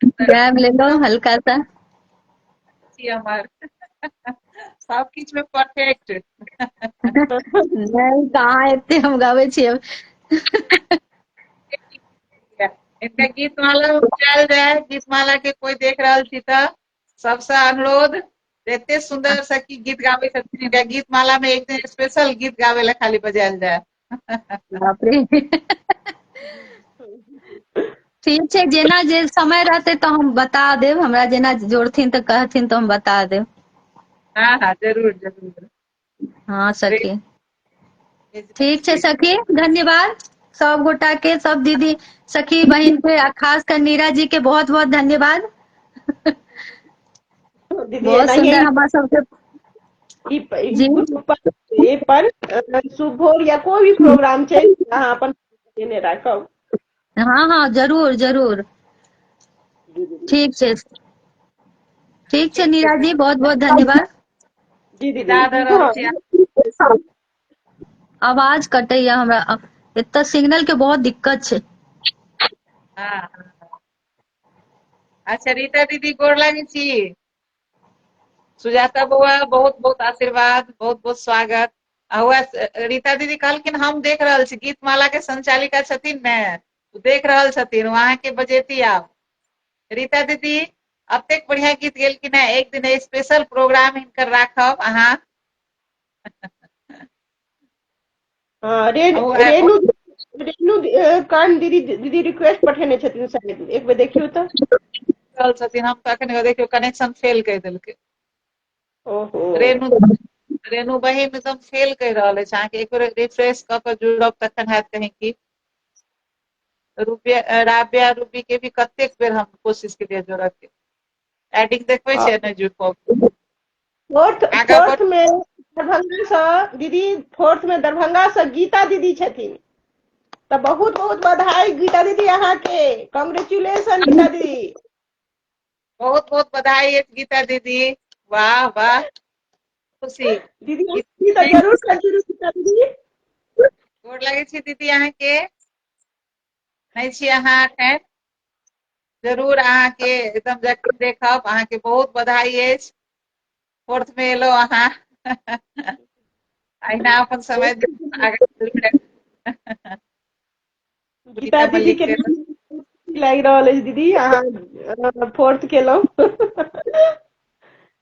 ग्रैब ले लो हल्का सा जी हमार सब किछ में परफेक्ट नहीं कहाँ एते हम गावे छी अब एकटा गीत माला उपजायल जाय गीत माला के कोई देख रहल छी त सबसे अनुरोध एते सुंदर से की गीत गावे छथिन एकटा गीत माला में एक दिन स्पेशल गीत गावे ला खाली बजायल जाय बापरे ठीक छै जेना जे समय रहते तो हम बता देव हमरा जेना जोड़थिन तो कहथिन तो हम बता देव हाँ हाँ जरूर जरूर हाँ सखी ठीक छै सखी धन्यवाद सब गोटा के सब दीदी सखी बहन के खास कर नीरा जी के बहुत बहुत धन्यवाद बहुत सुंदर हमारा सबके ई पर शुभ भोर या कोई भी प्रोग्राम छै अहाँ अपन देने राखब हाँ हाँ जरूर जरूर ठीक छै ठीक छै नीरा जी बहुत बहुत धन्यवाद जी दीदी आवाज कटैय हमरा एत सिग्नल के बहुत दिक्कत छै हाँ। अच्छा रीता दीदी गोर लागै छी सुजाता बौआ बहुत बहुत आशीर्वाद बहुत बहुत स्वागत हुआ रीता दीदी कहलखिन हम देख रहल छी गीत माला के संचालिका छथिन ने देख रहल छथिन वहां के बजेती आप रीता दीदी अब तक बढ़िया गीत गेल कि ना एक दिन स्पेशल प्रोग्राम इनकर राखब अहाँ हँ रेणु ओ आ- रेणु रेणु अ, कर्ण दीदी दीदी रिक्वेस्ट पठेने छथिन शायद एक बेर देखियौ तऽ रहल छथिन हम तऽ अखन देखियौ कनेक्शन फेल कहि देलकै ओहो रेणु रेणु बहिन एकदम फेल कहि रहल अछि अहाँके एक बेर रिफ्रेश कऽ कऽ जुड़ब तखन हैत कहीं की रुपया राबिया रूबी के भी कतेक बेर हम कोशिश केलिए जोड़ऽ के एडिंग देखबै छै ने जू को फोर्थ फोर्थ में दरभंगा से दीदी फोर्थ में दरभंगा से गीता दीदी छथिन तो बहुत बहुत बधाई गीता दीदी यहाँ के कांग्रेचुलेशन गीता दीदी बहुत बहुत बधाई है गीता दीदी वाह वाह खुशी दीदी दीदी तो जरूर कंटिन्यू गीता दीदी गोर लगे छी दीदी यहाँ के नहि छी अहाँ एखन जरूर अहाँके एकदम जरूर देखब अहाँके बहुत बधाई अछि फोर्थ में एलो अहाँ अहिना अपन समय गीता दीदी के लागि रहल अछि दीदी अहाँ फोर्थ केलहुँ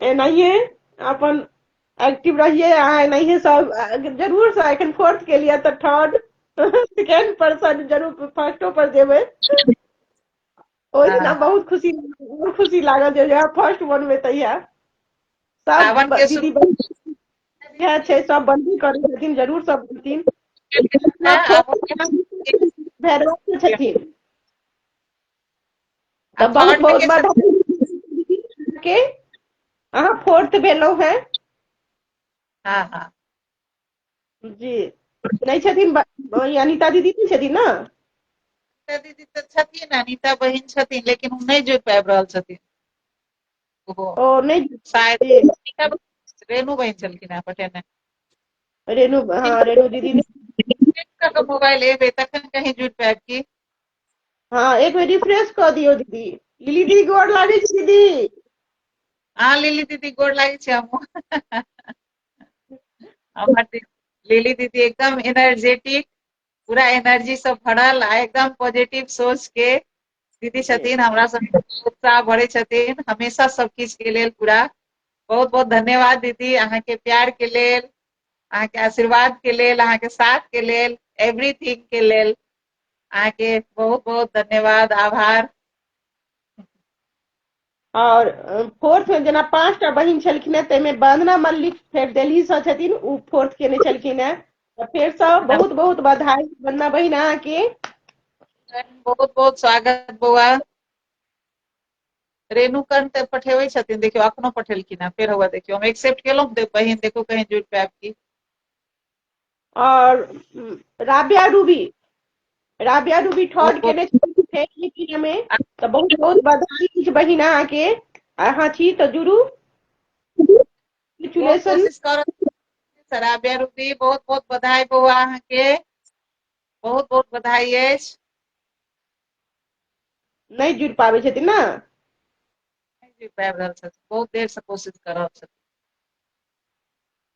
एनाहिए अपन एक्टिव रहिए अहाँ एनाहिए सब जरूर से एखन फोर्थ के लिए तऽ थर्ड सेकेंड पर्सन जरूर फर्स्टो पर जेबै ओहि दिना हाँ। बहुत खुशी बहुत खुशी लागल जे यहाँ फर्स्ट वन में तहिया सावन सब के दीदी बहिन इएह छै सब बंदी करै छथिन जरूर सब बनथिन हाँ, भैरवा के छथिन तो बहुत बहुत बधाई के अहाँ फोर्थ भेलो है हाँ हाँ जी नहीं छथिन अनिता दीदी नहीं छथिन ना अनिता दीदी तो छथिन अनिता बहन छथिन लेकिन वो नहीं जुड़ पाबि रहल छथिन ओ नहीं शायद रेणु बहन छलखिन है पटेने रेणु हाँ रेणु दीदी मोबाइल एबे तखन कहीं जुड़ पाबि की हाँ एक बेर रिफ्रेश कऽ दियौ दीदी लिली दीदी गोर लागै छी दीदी हाँ लिली दीदी गोर लागै छी हमहूँ हमर दी- लिली दीदी एकदम एनर्जेटिक पूरा एनर्जी से भरल आ एकदम पॉजिटिव सोच के दीदी छथिन हमरा सब उत्साह भरे छथिन हमेशा सब किछ के लेल पूरा बहुत बहुत धन्यवाद दीदी अहाँ के प्यार के लेल अहाँ के आशीर्वाद के लेल अहाँ के साथ के लेल एवरीथिंग के लेल अहाँके बहुत बहुत धन्यवाद आभार और फोर्थ में जेना पांच टा बहिन छलखिन है ताहिमे वंदना मल्लिक फेर दिल्ली से छथिन ओ फोर्थ केने छलखिन है तो फिर से बहुत बहुत बधाई वंदना बहिन अहाँ के बहुत बहुत स्वागत बौआ रेणु कर्ण ते पठेबै छथिन देखियो अखनो पठेलखिन है फिर हुआ देखियो हम एक्सेप्ट केलहुँ बहिन देखो कहीं जुड़ पे आपकी और राबिया रूबी राबिया रूबी थर्ड केने छथिन फेर लिपिया में तो बहुत बहुत बधाई कुछ बहिन अहाँ के अहाँ छी तो जुड़ू बहुत Congratulations. कोशिश करब सराबिया रूबी बहुत बहुत बधाई बौआ अहाँके बहुत बहुत बधाई अछि नहीं जुड़ पावे छथिन ना नहीं जी पाबि रहल छथि बहुत देर से कोशिश कर रहल छथि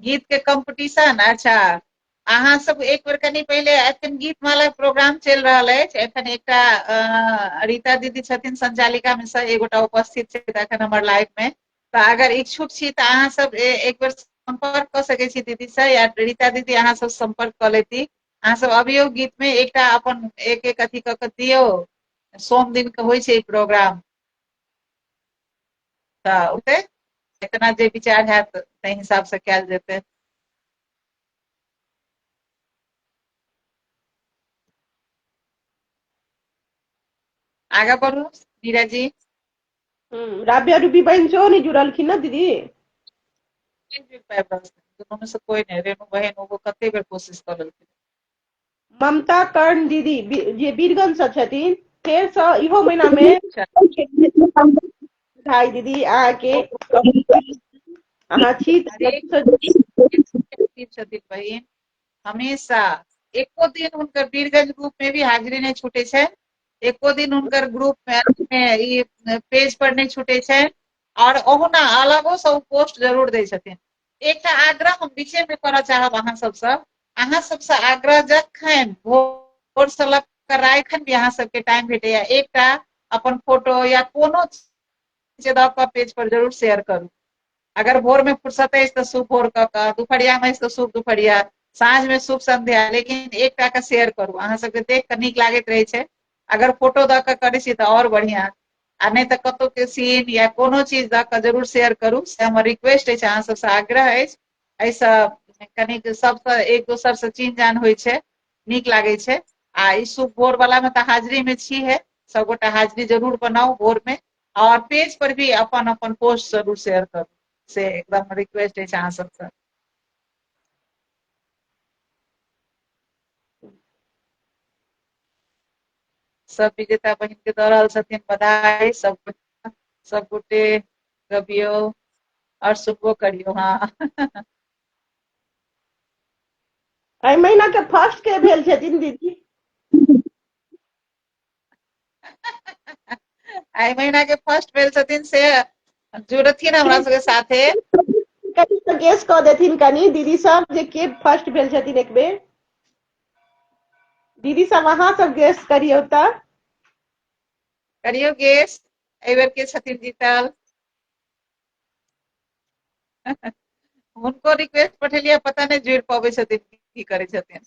गीत के कंपटीशन अच्छा अहाँ सब एक बेर कनी पहिले एखन गीत माला प्रोग्राम चलि रहल अछि एखन एकटा रीता दीदी छथिन संचालिका में से एगोटा उपस्थित छै एखन हमर लाइव में तऽ अगर इच्छुक छी तऽ अहाँ सब एक बेर संपर्क कऽ सकै छी दीदी से या रीता दीदी अहाँ सब संपर्क कऽ लेती अहाँ सब अबियो गीत में एकटा अपन एक एक अथी कऽ के दियौ सोम दिन के होइ छै प्रोग्राम तऽ ओतै जेतना जे विचार होयत ताहि हिसाबसँ कयल जेतै आगा बढ़ू नीरा जी हम्म, राबिया रूबी बहन सेहो नहि जुड़लखिन ने दीदी दुनू से कोई नहि रेणु बहन ओहो कते बेर कोशिश कर लेलखिन ममता कर्ण दीदी जे वीरगंज से छथिन फेर से इहो महीना में भाई दीदी अहाँ के अहाँ छी छथिन बहिन हमेशा एको दिन हुनकर वीरगंज ग्रुप में भी हाजिरी नहीं छूटे छे एको दिन हुनकर ग्रुप में पेज पर नहीं छूटे छे और ओहुना अलगो से पोस्ट जरूर दे छथिन एकटा आग्रह हम विषय में करऽ चाहब अहाँ सबसँ अहाँ सबसँ आग्रह जखन भोर से लग कर राखन भी अहाँ सबके टाइम भेटैया एकटा अपन फोटो या कोनो चीज दऽ कऽ पेज पर जरूर शेयर करू अगर भोर में फुर्सत अछि तऽ शुभ भोर कऽ कऽ दुपहरिया में अछि तऽ शुभ दुपहरिया साँझ में शुभ संध्या लेकिन एकटा के शेयर करू अहाँ सबके देख कऽ नीक लागैत रहै छै अगर फोटो दऽ कऽ करै छी तऽ आओर बढ़िआँ आ नहि तऽ कतहु के सीन या कोनो चीज दऽ कऽ जरूर शेयर करू से हमर रिक्वेस्ट अछि अहाँ सभसँ आग्रह अछि एहिसँ कनिक सभसँ एक दोसरसँ चिन्ह जान होइ छै नीक लागै छै आ ई शुभ भोर वाला मे तऽ हाजिरी मे छी है सबगोटा हाजिरी जरूर बनाउ भोर मे और पेज पर भी अपन अपन पोस्ट जरूर शेयर करू से एकदम रिक्वेस्ट अछि अहाँ सबसँ सब विजेता बहिन के दऽ रहल छथिन बधाई सब सब गोटे गबियो और सुनबो करियो हाँ एहि महीना के फर्स्ट के भेल छथिन दीदी आइ महीना के फर्स्ट भेल छथिन से जुड़थिन हमरा सबके साथे कनि तऽ गेस कऽ देथिन कनि दीदी सब जे के फर्स्ट भेल छथिन एक बेर दीदी सब अहाँ सब गेस करियौ तऽ करियौ गेस एहि बेर के छथिन जीतल हुनको रिक्वेस्ट पठेलियै पता नहि जुड़ि पबै छथिन की करै छथिन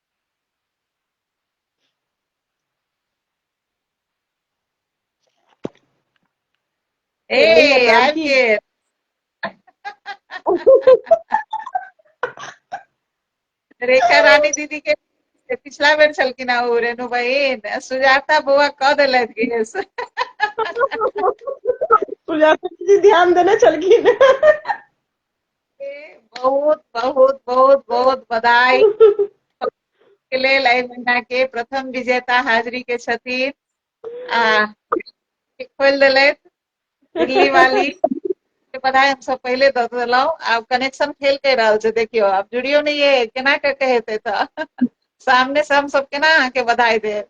Hey, I'm here. रेखा रानी दीदी के पिछला बेर छलखिन आ ओ रेणु बहिन आ सुजाता बौआ कह देलथि कि हे से। सुजाता जी ध्यान देने छलखिन बहुत बहुत बहुत बहुत बधाई के लेल एहि महीना के प्रथम विजेता हाजिरी के छथिन आ खोलि देलथि दिल्ली वाली के बधाई हम सब पहिले दऽ देलहुँ आब कनेक्शन फेल कहि रहल छै देखियौ आब जुड़ियो नहि ये केना कऽ के हेतै तऽ सामने से हम सब केना अहाँके बधाई देब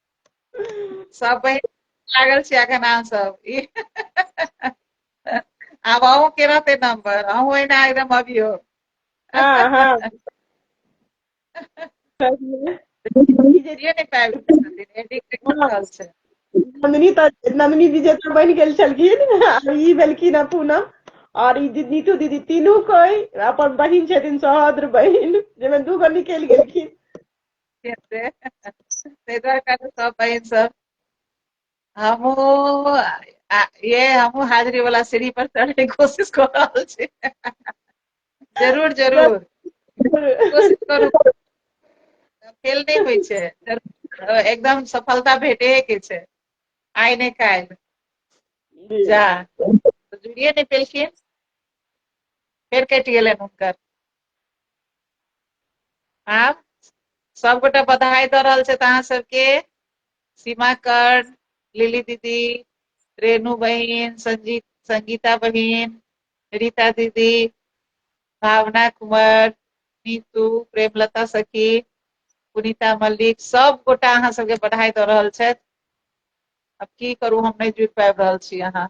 सब बहिन लागल छी अखन अहाँ सब ई आब अहूँ के रहते नंबर अहूँ एना एकदम अभियो हाँ हाँ नहि पाबि नंदिनी तऽ नंदिनी विजेता बनि गेल छलखिन आ ई भेलखिन हँ पूनम और ई दी- नीतू दीदी तीनू कोई अपन बहिन छथिन सहोदर बहिन जाहिमे दू गो निकलि गेलखिन हेतै ताहि दुआरे कहलहुँ सब बहिन सब हमहूँ आ- ये हमहूँ हाजिरी वाला सीढ़ी पर चढ़े के कोशिश कर रहल छी जरूर जरूर कोशिश करू फेल नहि होइ छै जरूर, अ, एकदम सफलता भेटे के छै आइ नहि काल्हि जी जा जुड़िए नहि पेलखिन फेर कटि गेलनि हुनकर आब सबगोटा बधाई दऽ रहल छथि अहाँ सबके सीमा कर लिली दीदी रेणु बहिन संजीत संगीता बहिन रीता दीदी भावना कुमार नीतू प्रेमलता सखी पुनीता मल्लिक सब गोटा अहाँ सबके बधाई दऽ रहल छथि अब की करू हम नहि जुटि पाबि रहल छी अहाँ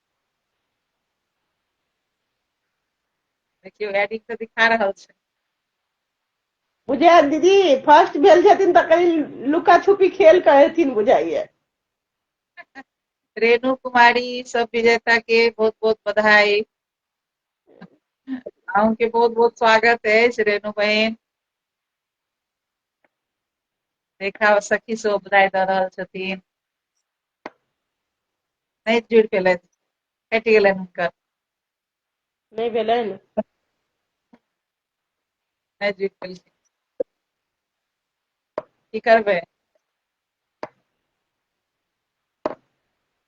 देखियौ एडिंग तऽ दिखा रहल छै बुझाय दीदी फर्स्ट भेल छथिन तऽ कनि लुका छुपी खेल के हेथिन बुझाइए रेणु कुमारी सब विजेता के बहुत बहुत बधाई अहूँके बहुत बहुत स्वागत अछि रेणु बहन देखा सखी सब बधाई दऽ रहल छथिन नहि जुड़ि पेलथि कटि गेलनि हुनकर नहि भेलनि नहि जुड़ि पेलखिन की करबै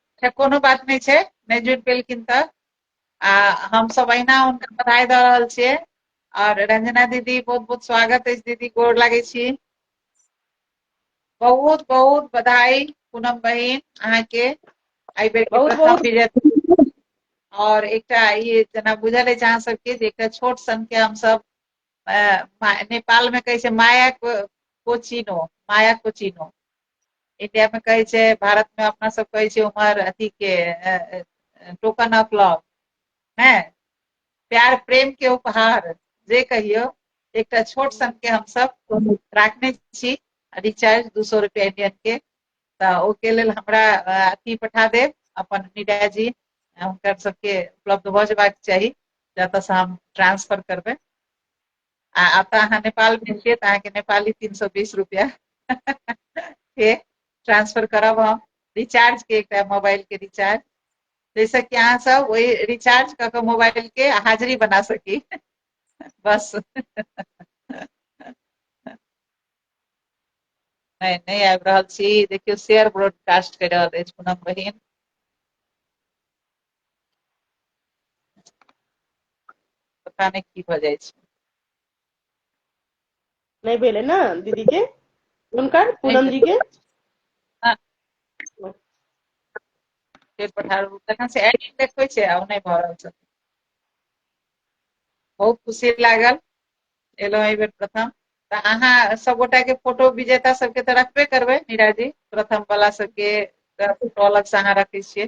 अच्छा कोनो बात नहि छै नहि जुड़ि पेलखिन तऽ आ हमसभ अहिना हुनका बधाई दऽ रहल छियै आओर रंजना दीदी बहुत बहुत स्वागत अछि दीदी गोर लागै छी बहुत बहुत बधाई पूनम बहिन अहाँ के आई बेर के बहुत- प्रथम बहुत- विजेता और एकटा ई जेना बुझल अछि अहाँ सबके जे एकटा छोट सन के हम सब नेपाल में कहै छै माया को- कोचिनो माया कोचिनो इंडिया में कहै छै भारत में अपना सब कहै छै उमर अथी के टोकन ऑफ लव है प्यार प्रेम के उपहार जे कहियो एकटा छोट सन के हम सब राखने छी रिचार्ज दू सौ रुपया इंडियन के तऽ ओके लेल हमरा अ, अथी पठा देब अपन मीडिया जी अ, हुनकर सबके उपलब्ध भऽ जेबाक चाही जतऽसँ हम ट्रांसफर करबै आ अतः अहाँ नेपाल में छियै तऽ अहाँके नेपाली तीन सौ बीस रुपया के ट्रांसफर करब हम रिचार्ज के एकटा मोबाइल के रिचार्ज जाहिसँ कि अहाँ सब ओहि रिचार्ज कऽ कऽ मोबाइल के हाजिरी बना सकी बस नहि नहि आबि रहल छी देखियौ शेयर ब्रॉडकास्ट कर रहल अछि पूनम बहिन पता नहि की भऽ जाइ छै नहि भेलै ने दीदी के हुनकर पूनम जी के तखन से एड देखबै छै आ नहि भऽ रहल छै बहुत खुशी लागल एलहुँ एहि बेर प्रथम तऽ अहाँ सभगोटा के फोटो विजेता सबके तऽ रखबे करबै मीरा जी प्रथम वाला सबके फोटो अलग से अहाँ रखै छियै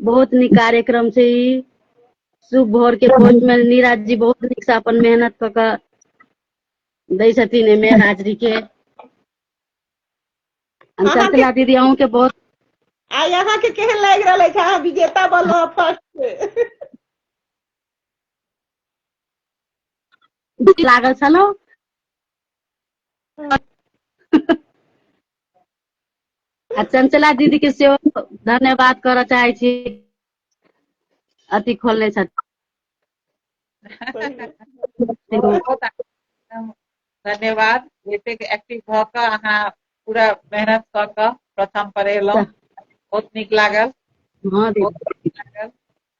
बहुत नीक कार्यक्रम छै ई शुभ भोर के भोज में नीरज जी बहुत नीक से अपन मेहनत क के दै छथिन एमे हाजरी के हम अहाँ चंचला दीदी अहूँ के बहुत आइ अहाँ के केहन लागि रहल अछि अहाँ विजेता बनलो फर्स्ट से नीक लागल छलहुँ आ चंचला दीदी के सेहो धन्यवाद करऽ चाहै छी अथी खोलने छथि धन्यवाद एतेक एक्टिव भऽ कऽ अहाँ पूरा मेहनत कऽ कऽ प्रथम पर एलहुँ बहुत नीक लागल हँ दीदी बहुत नीक लागल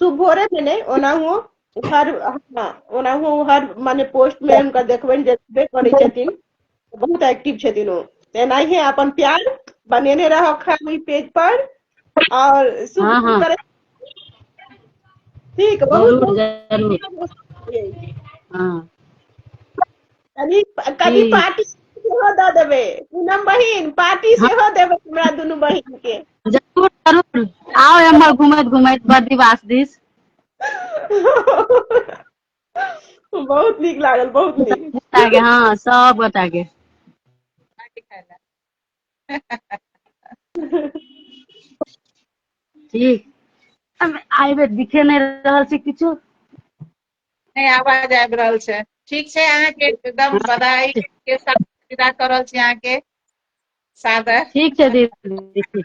तू भोरे में नहीं ओनाहो हर हाँ, ओनाहो हर माने पोस्ट में उनका देखबे ने देखबे करे छथिन बहुत एक्टिव छथिन ओ तेनाही अपन प्यार बनेने रहो खाली पेज पर और शुभ हाँ, हाँ। करे ठीक बहुत जरूर बहुत जरूर हाँ कभी कभी जी। पार्टी सेहो दऽ देबै पूनम बहिन पार्टी सेहो देबै हमरा दुनू बहिन के जरूर जरूर आओ एम्हर घुमैत घुमैत बर्दिवास दिस बहुत नीक लागल बहुत नीक गोटा के हाँ सब गोटा के ठीक अब आइ बेर दिखे नहीं रहल छै किछु नहि आवाज आबि रहल छै ठीक छै अहाँके एकदम हाँ। बधाई के साथ विदा कर रहल छी अहाँके सादर ठीक छै दीदी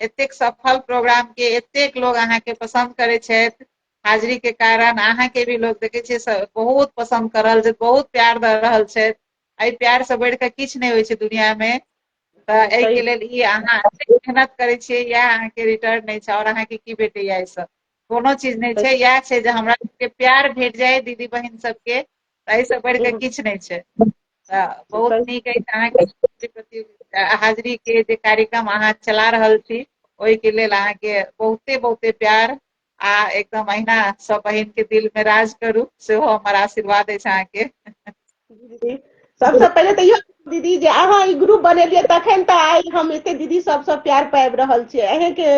एतेक सफल प्रोग्राम के एतेक लोग अहाँ के पसंद करे छथि हाजिरी के कारण अहाँ के भी लोग देखे छे बहुत पसंद कर रहल छथि बहुत प्यार द रहल छथि एहि प्यार से बढ़ के किछ नहीं होइ छे दुनिया में तो एहि के लेल ई अहाँ मेहनत करे छे या अहाँ के रिटर्न नहीं छे और अहाँ के की भेटे या सब कोनो चीज नहि छै इएह छै जे हमरा सबके प्यार भेट जाय दीदी बहिन सबके ताहि से बढ़ि कऽ किछु नहि छै तऽ बहुत नीक अछि अहाँके संस्कृति प्रति हाजिरी के जे कार्यक्रम अहाँ चला रहल छी ओहिके लेल अहाँके बहुते बहुते प्यार आ एकदम अहिना सब बहिन के दिल में राज करू सेहो हमर आशीर्वाद अछि अहाँके दीदी सबसँ पहिले तऽ इहो दीदी जे अहाँ ई ग्रुप बनेलियै तखन तऽ आइ हम एते दीदी सबसँ प्यार पाबि रहल छियै अहेंके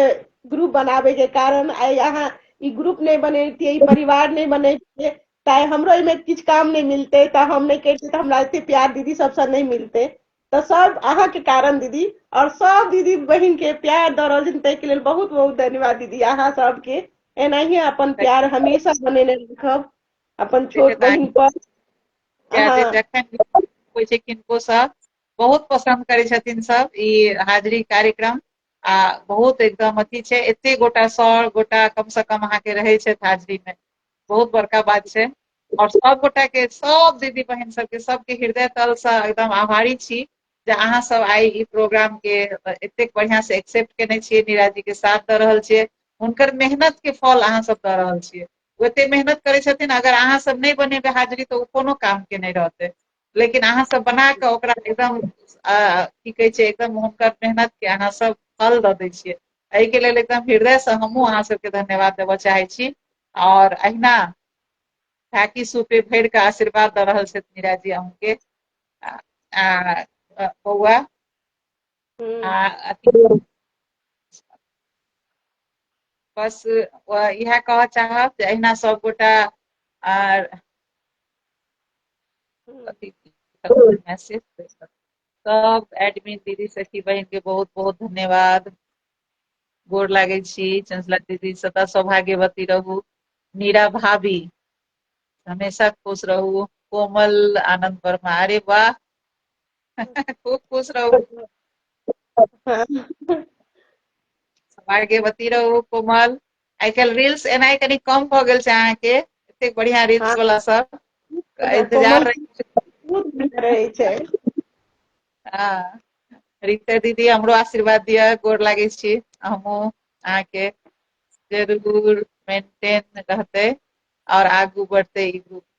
ग्रुप बनाबे के कारण आइ अहाँ ई ग्रुप नहि बनैतियै ई परिवार नहि बनैतियै ताहि हमरो एहिमे किछु काम नहि मिलते तऽ हम नहि करितियै तऽ हमरा एते प्यार दीदी सबसँ नहि मिलते तऽ सब अहाँके कारण दीदी और सब दीदी बहिन के प्यार दऽ रहल छथिन ताहिके लेल बहुत बहुत धन्यवाद दीदी अहाँ सबके एनाहिए अपन प्यार हमेशा बनेने रखब अपन छोट बहिन पर होइ छै किनको सब बहुत पसंद करै छथिन सब ई हाजिरी कार्यक्रम आ बहुत एकदम अथी छै एते गोटा सौ गोटा कम से कम अहाँके रहै छथि हाजिरी मे बहुत बड़का बात छै और सब गोटा के सब दीदी बहन सबके सबके हृदय तल से एकदम आभारी छी जे अहाँ सब आई ई प्रोग्राम के एतेक बढ़िया से एक्सेप्ट केने छियै नीरा जी के साथ दऽ रहल छियै हुनकर मेहनत के फल अहाँ सब दऽ रहल छियै ओते मेहनत करै छथिन अगर अहाँ सब नहि बनेबै हाजिरी तऽ ओ कोनो काम के नहि रहतै लेकिन अहाँ सब बना कऽ ओकरा एकदम की कहै छै एकदम हुनकर मेहनत के अहाँ सब फल दऽ दै छियै एहिके लेल एकदम हृदय से हमहूँ अहाँ सबके धन्यवाद देबऽ चाहै छी और अहिना ढाकी सूपे भरि कऽ आशीर्वाद दऽ रहल छथि मीरा जी अहूँके बौआ हम्म। आ अथी बस व- इएह कहऽ चाहब जे अहिना सब गोटा आर अथी मैसेज सब एडमिन दीदी सखी बहिन के बहुत बहुत धन्यवाद गोर लागै छी चंचला दीदी सदा सौभाग्यवती रहू नीरा भाभी हमेशा खुश रहू कोमल आनंद वर्मा अरे वाह खूब खुश रहू भाग्यवती रहू कोमल आइ काल्हि रील्स एनाइ कनी कम भऽ गेल छै अहाँके एतेक बढ़िया रील्स हाँ। वाला सब इंतजार रहै छै हाँ। रीते दीदी हमरो आशीर्वाद दिअ गोर लागै छी हमहूँ अहाँके जरूर मेंटेन रहते और आगू बढ़ते ई ग्रुप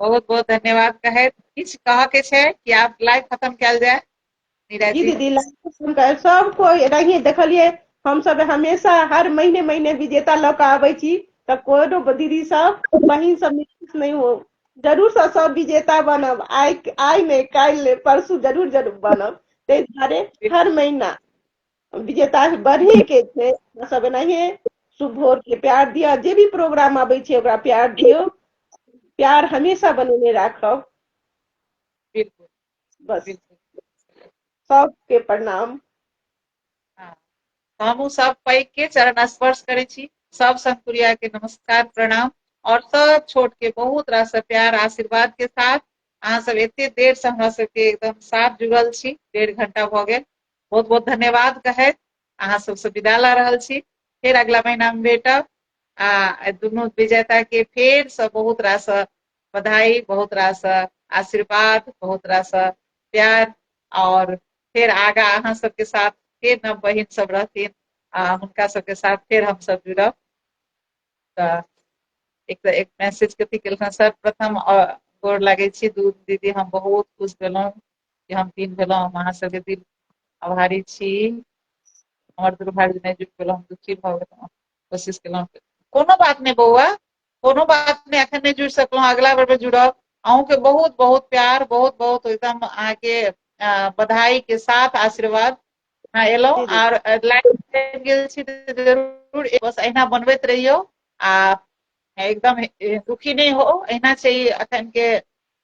बहुत बहुत धन्यवाद कहैत किछु कहऽ के छै कि आब लाइव खत्म कयल जाय नीरज जी जी दीदी लाइव सुनकर सब कोई एनाहिए देखलिए हम सब हमेशा हर महीने महीने विजेता लऽ कऽ आबै छी तऽ कोनो दीदी सब बहिन सब निराश नहि हो जरूर सँ सब विजेता बनब आइ आइ नहि काल्हि नहि परसू जरूर जरूर बनब ताहि दुआरे हर महीना विजेता बढ़े के छै अपना सब एनाहिए शुभ भोर के प्यार दिअ जे भी प्रोग्राम आबै छै ओकरा प्यार दियौ प्यार हमेशा बनेने राखब बिल्कुल बस बिल्कुल सबके प्रणाम हाँ। हमहूँ सब पैघ के चरण स्पर्श करै छी सब संकुरिया के नमस्कार प्रणाम और सब छोट के बहुत रास प्यार आशीर्वाद के साथ अहाँ सब एते देर से हमरा सबके एकदम साथ जुड़ल छी डेढ़ घंटा भऽ गेल बहुत बहुत धन्यवाद कहैत अहाँ सबसँ विदा लऽ रहल छी फेर अगला महीना में भेटब आ दुनू विजेता के फेर से बहुत रास बधाई बहुत रास आशीर्वाद बहुत रास प्यार और फिर आगा अहाँ सबके साथ फिर नव बहिन सब रहथिन आ हुनका सबके साथ फिर हम सब जुड़ब तऽ एक तऽ एक मैसेज कथी केलखिन सर्वप्रथम गोर लागै छी दूध दीदी हम बहुत खुश भेलहुँ हम दिन भेलहु हम अहाँ सबके दिन आभारी छी हमर दुर्भाग्य नहि जुट गेलहुँ हम दुखी भऽ गेलहुँ कोशिश केलहुँ कोनो बात नहि बौआ कोनो बात नहि एखन नहि जुड़ि सकलहुँ अगिला बेर मे जुड़ब अहूँके बहुत बहुत प्यार बहुत बहुत एकदम अहाँके बधाई के साथ आशीर्वाद हाँ एलहुँ आर लाइव गेल छी जरूर बस अहिना बनबैत रहियौ आ एकदम दुखी नहि हो अहिना छै अखन के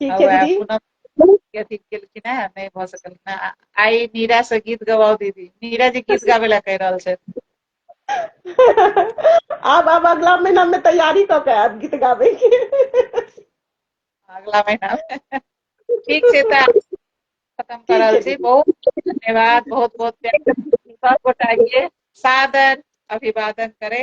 ठीक छै दीदी अथी केलखिन है नहि भऽ सकलखिन है आइ नीरा से गीत गवाओ दीदी नीरा जी गीत गाबे ला कहि रहल छै आब आब अगला महीना में तैयारी कऽ के आब गीत गाबे के अगला महीना ठीक छै तऽ खत्म कर रहल छी बहुत धन्यवाद बहुत बहुत प्यार सब गोटा के सादर अभिवादन करे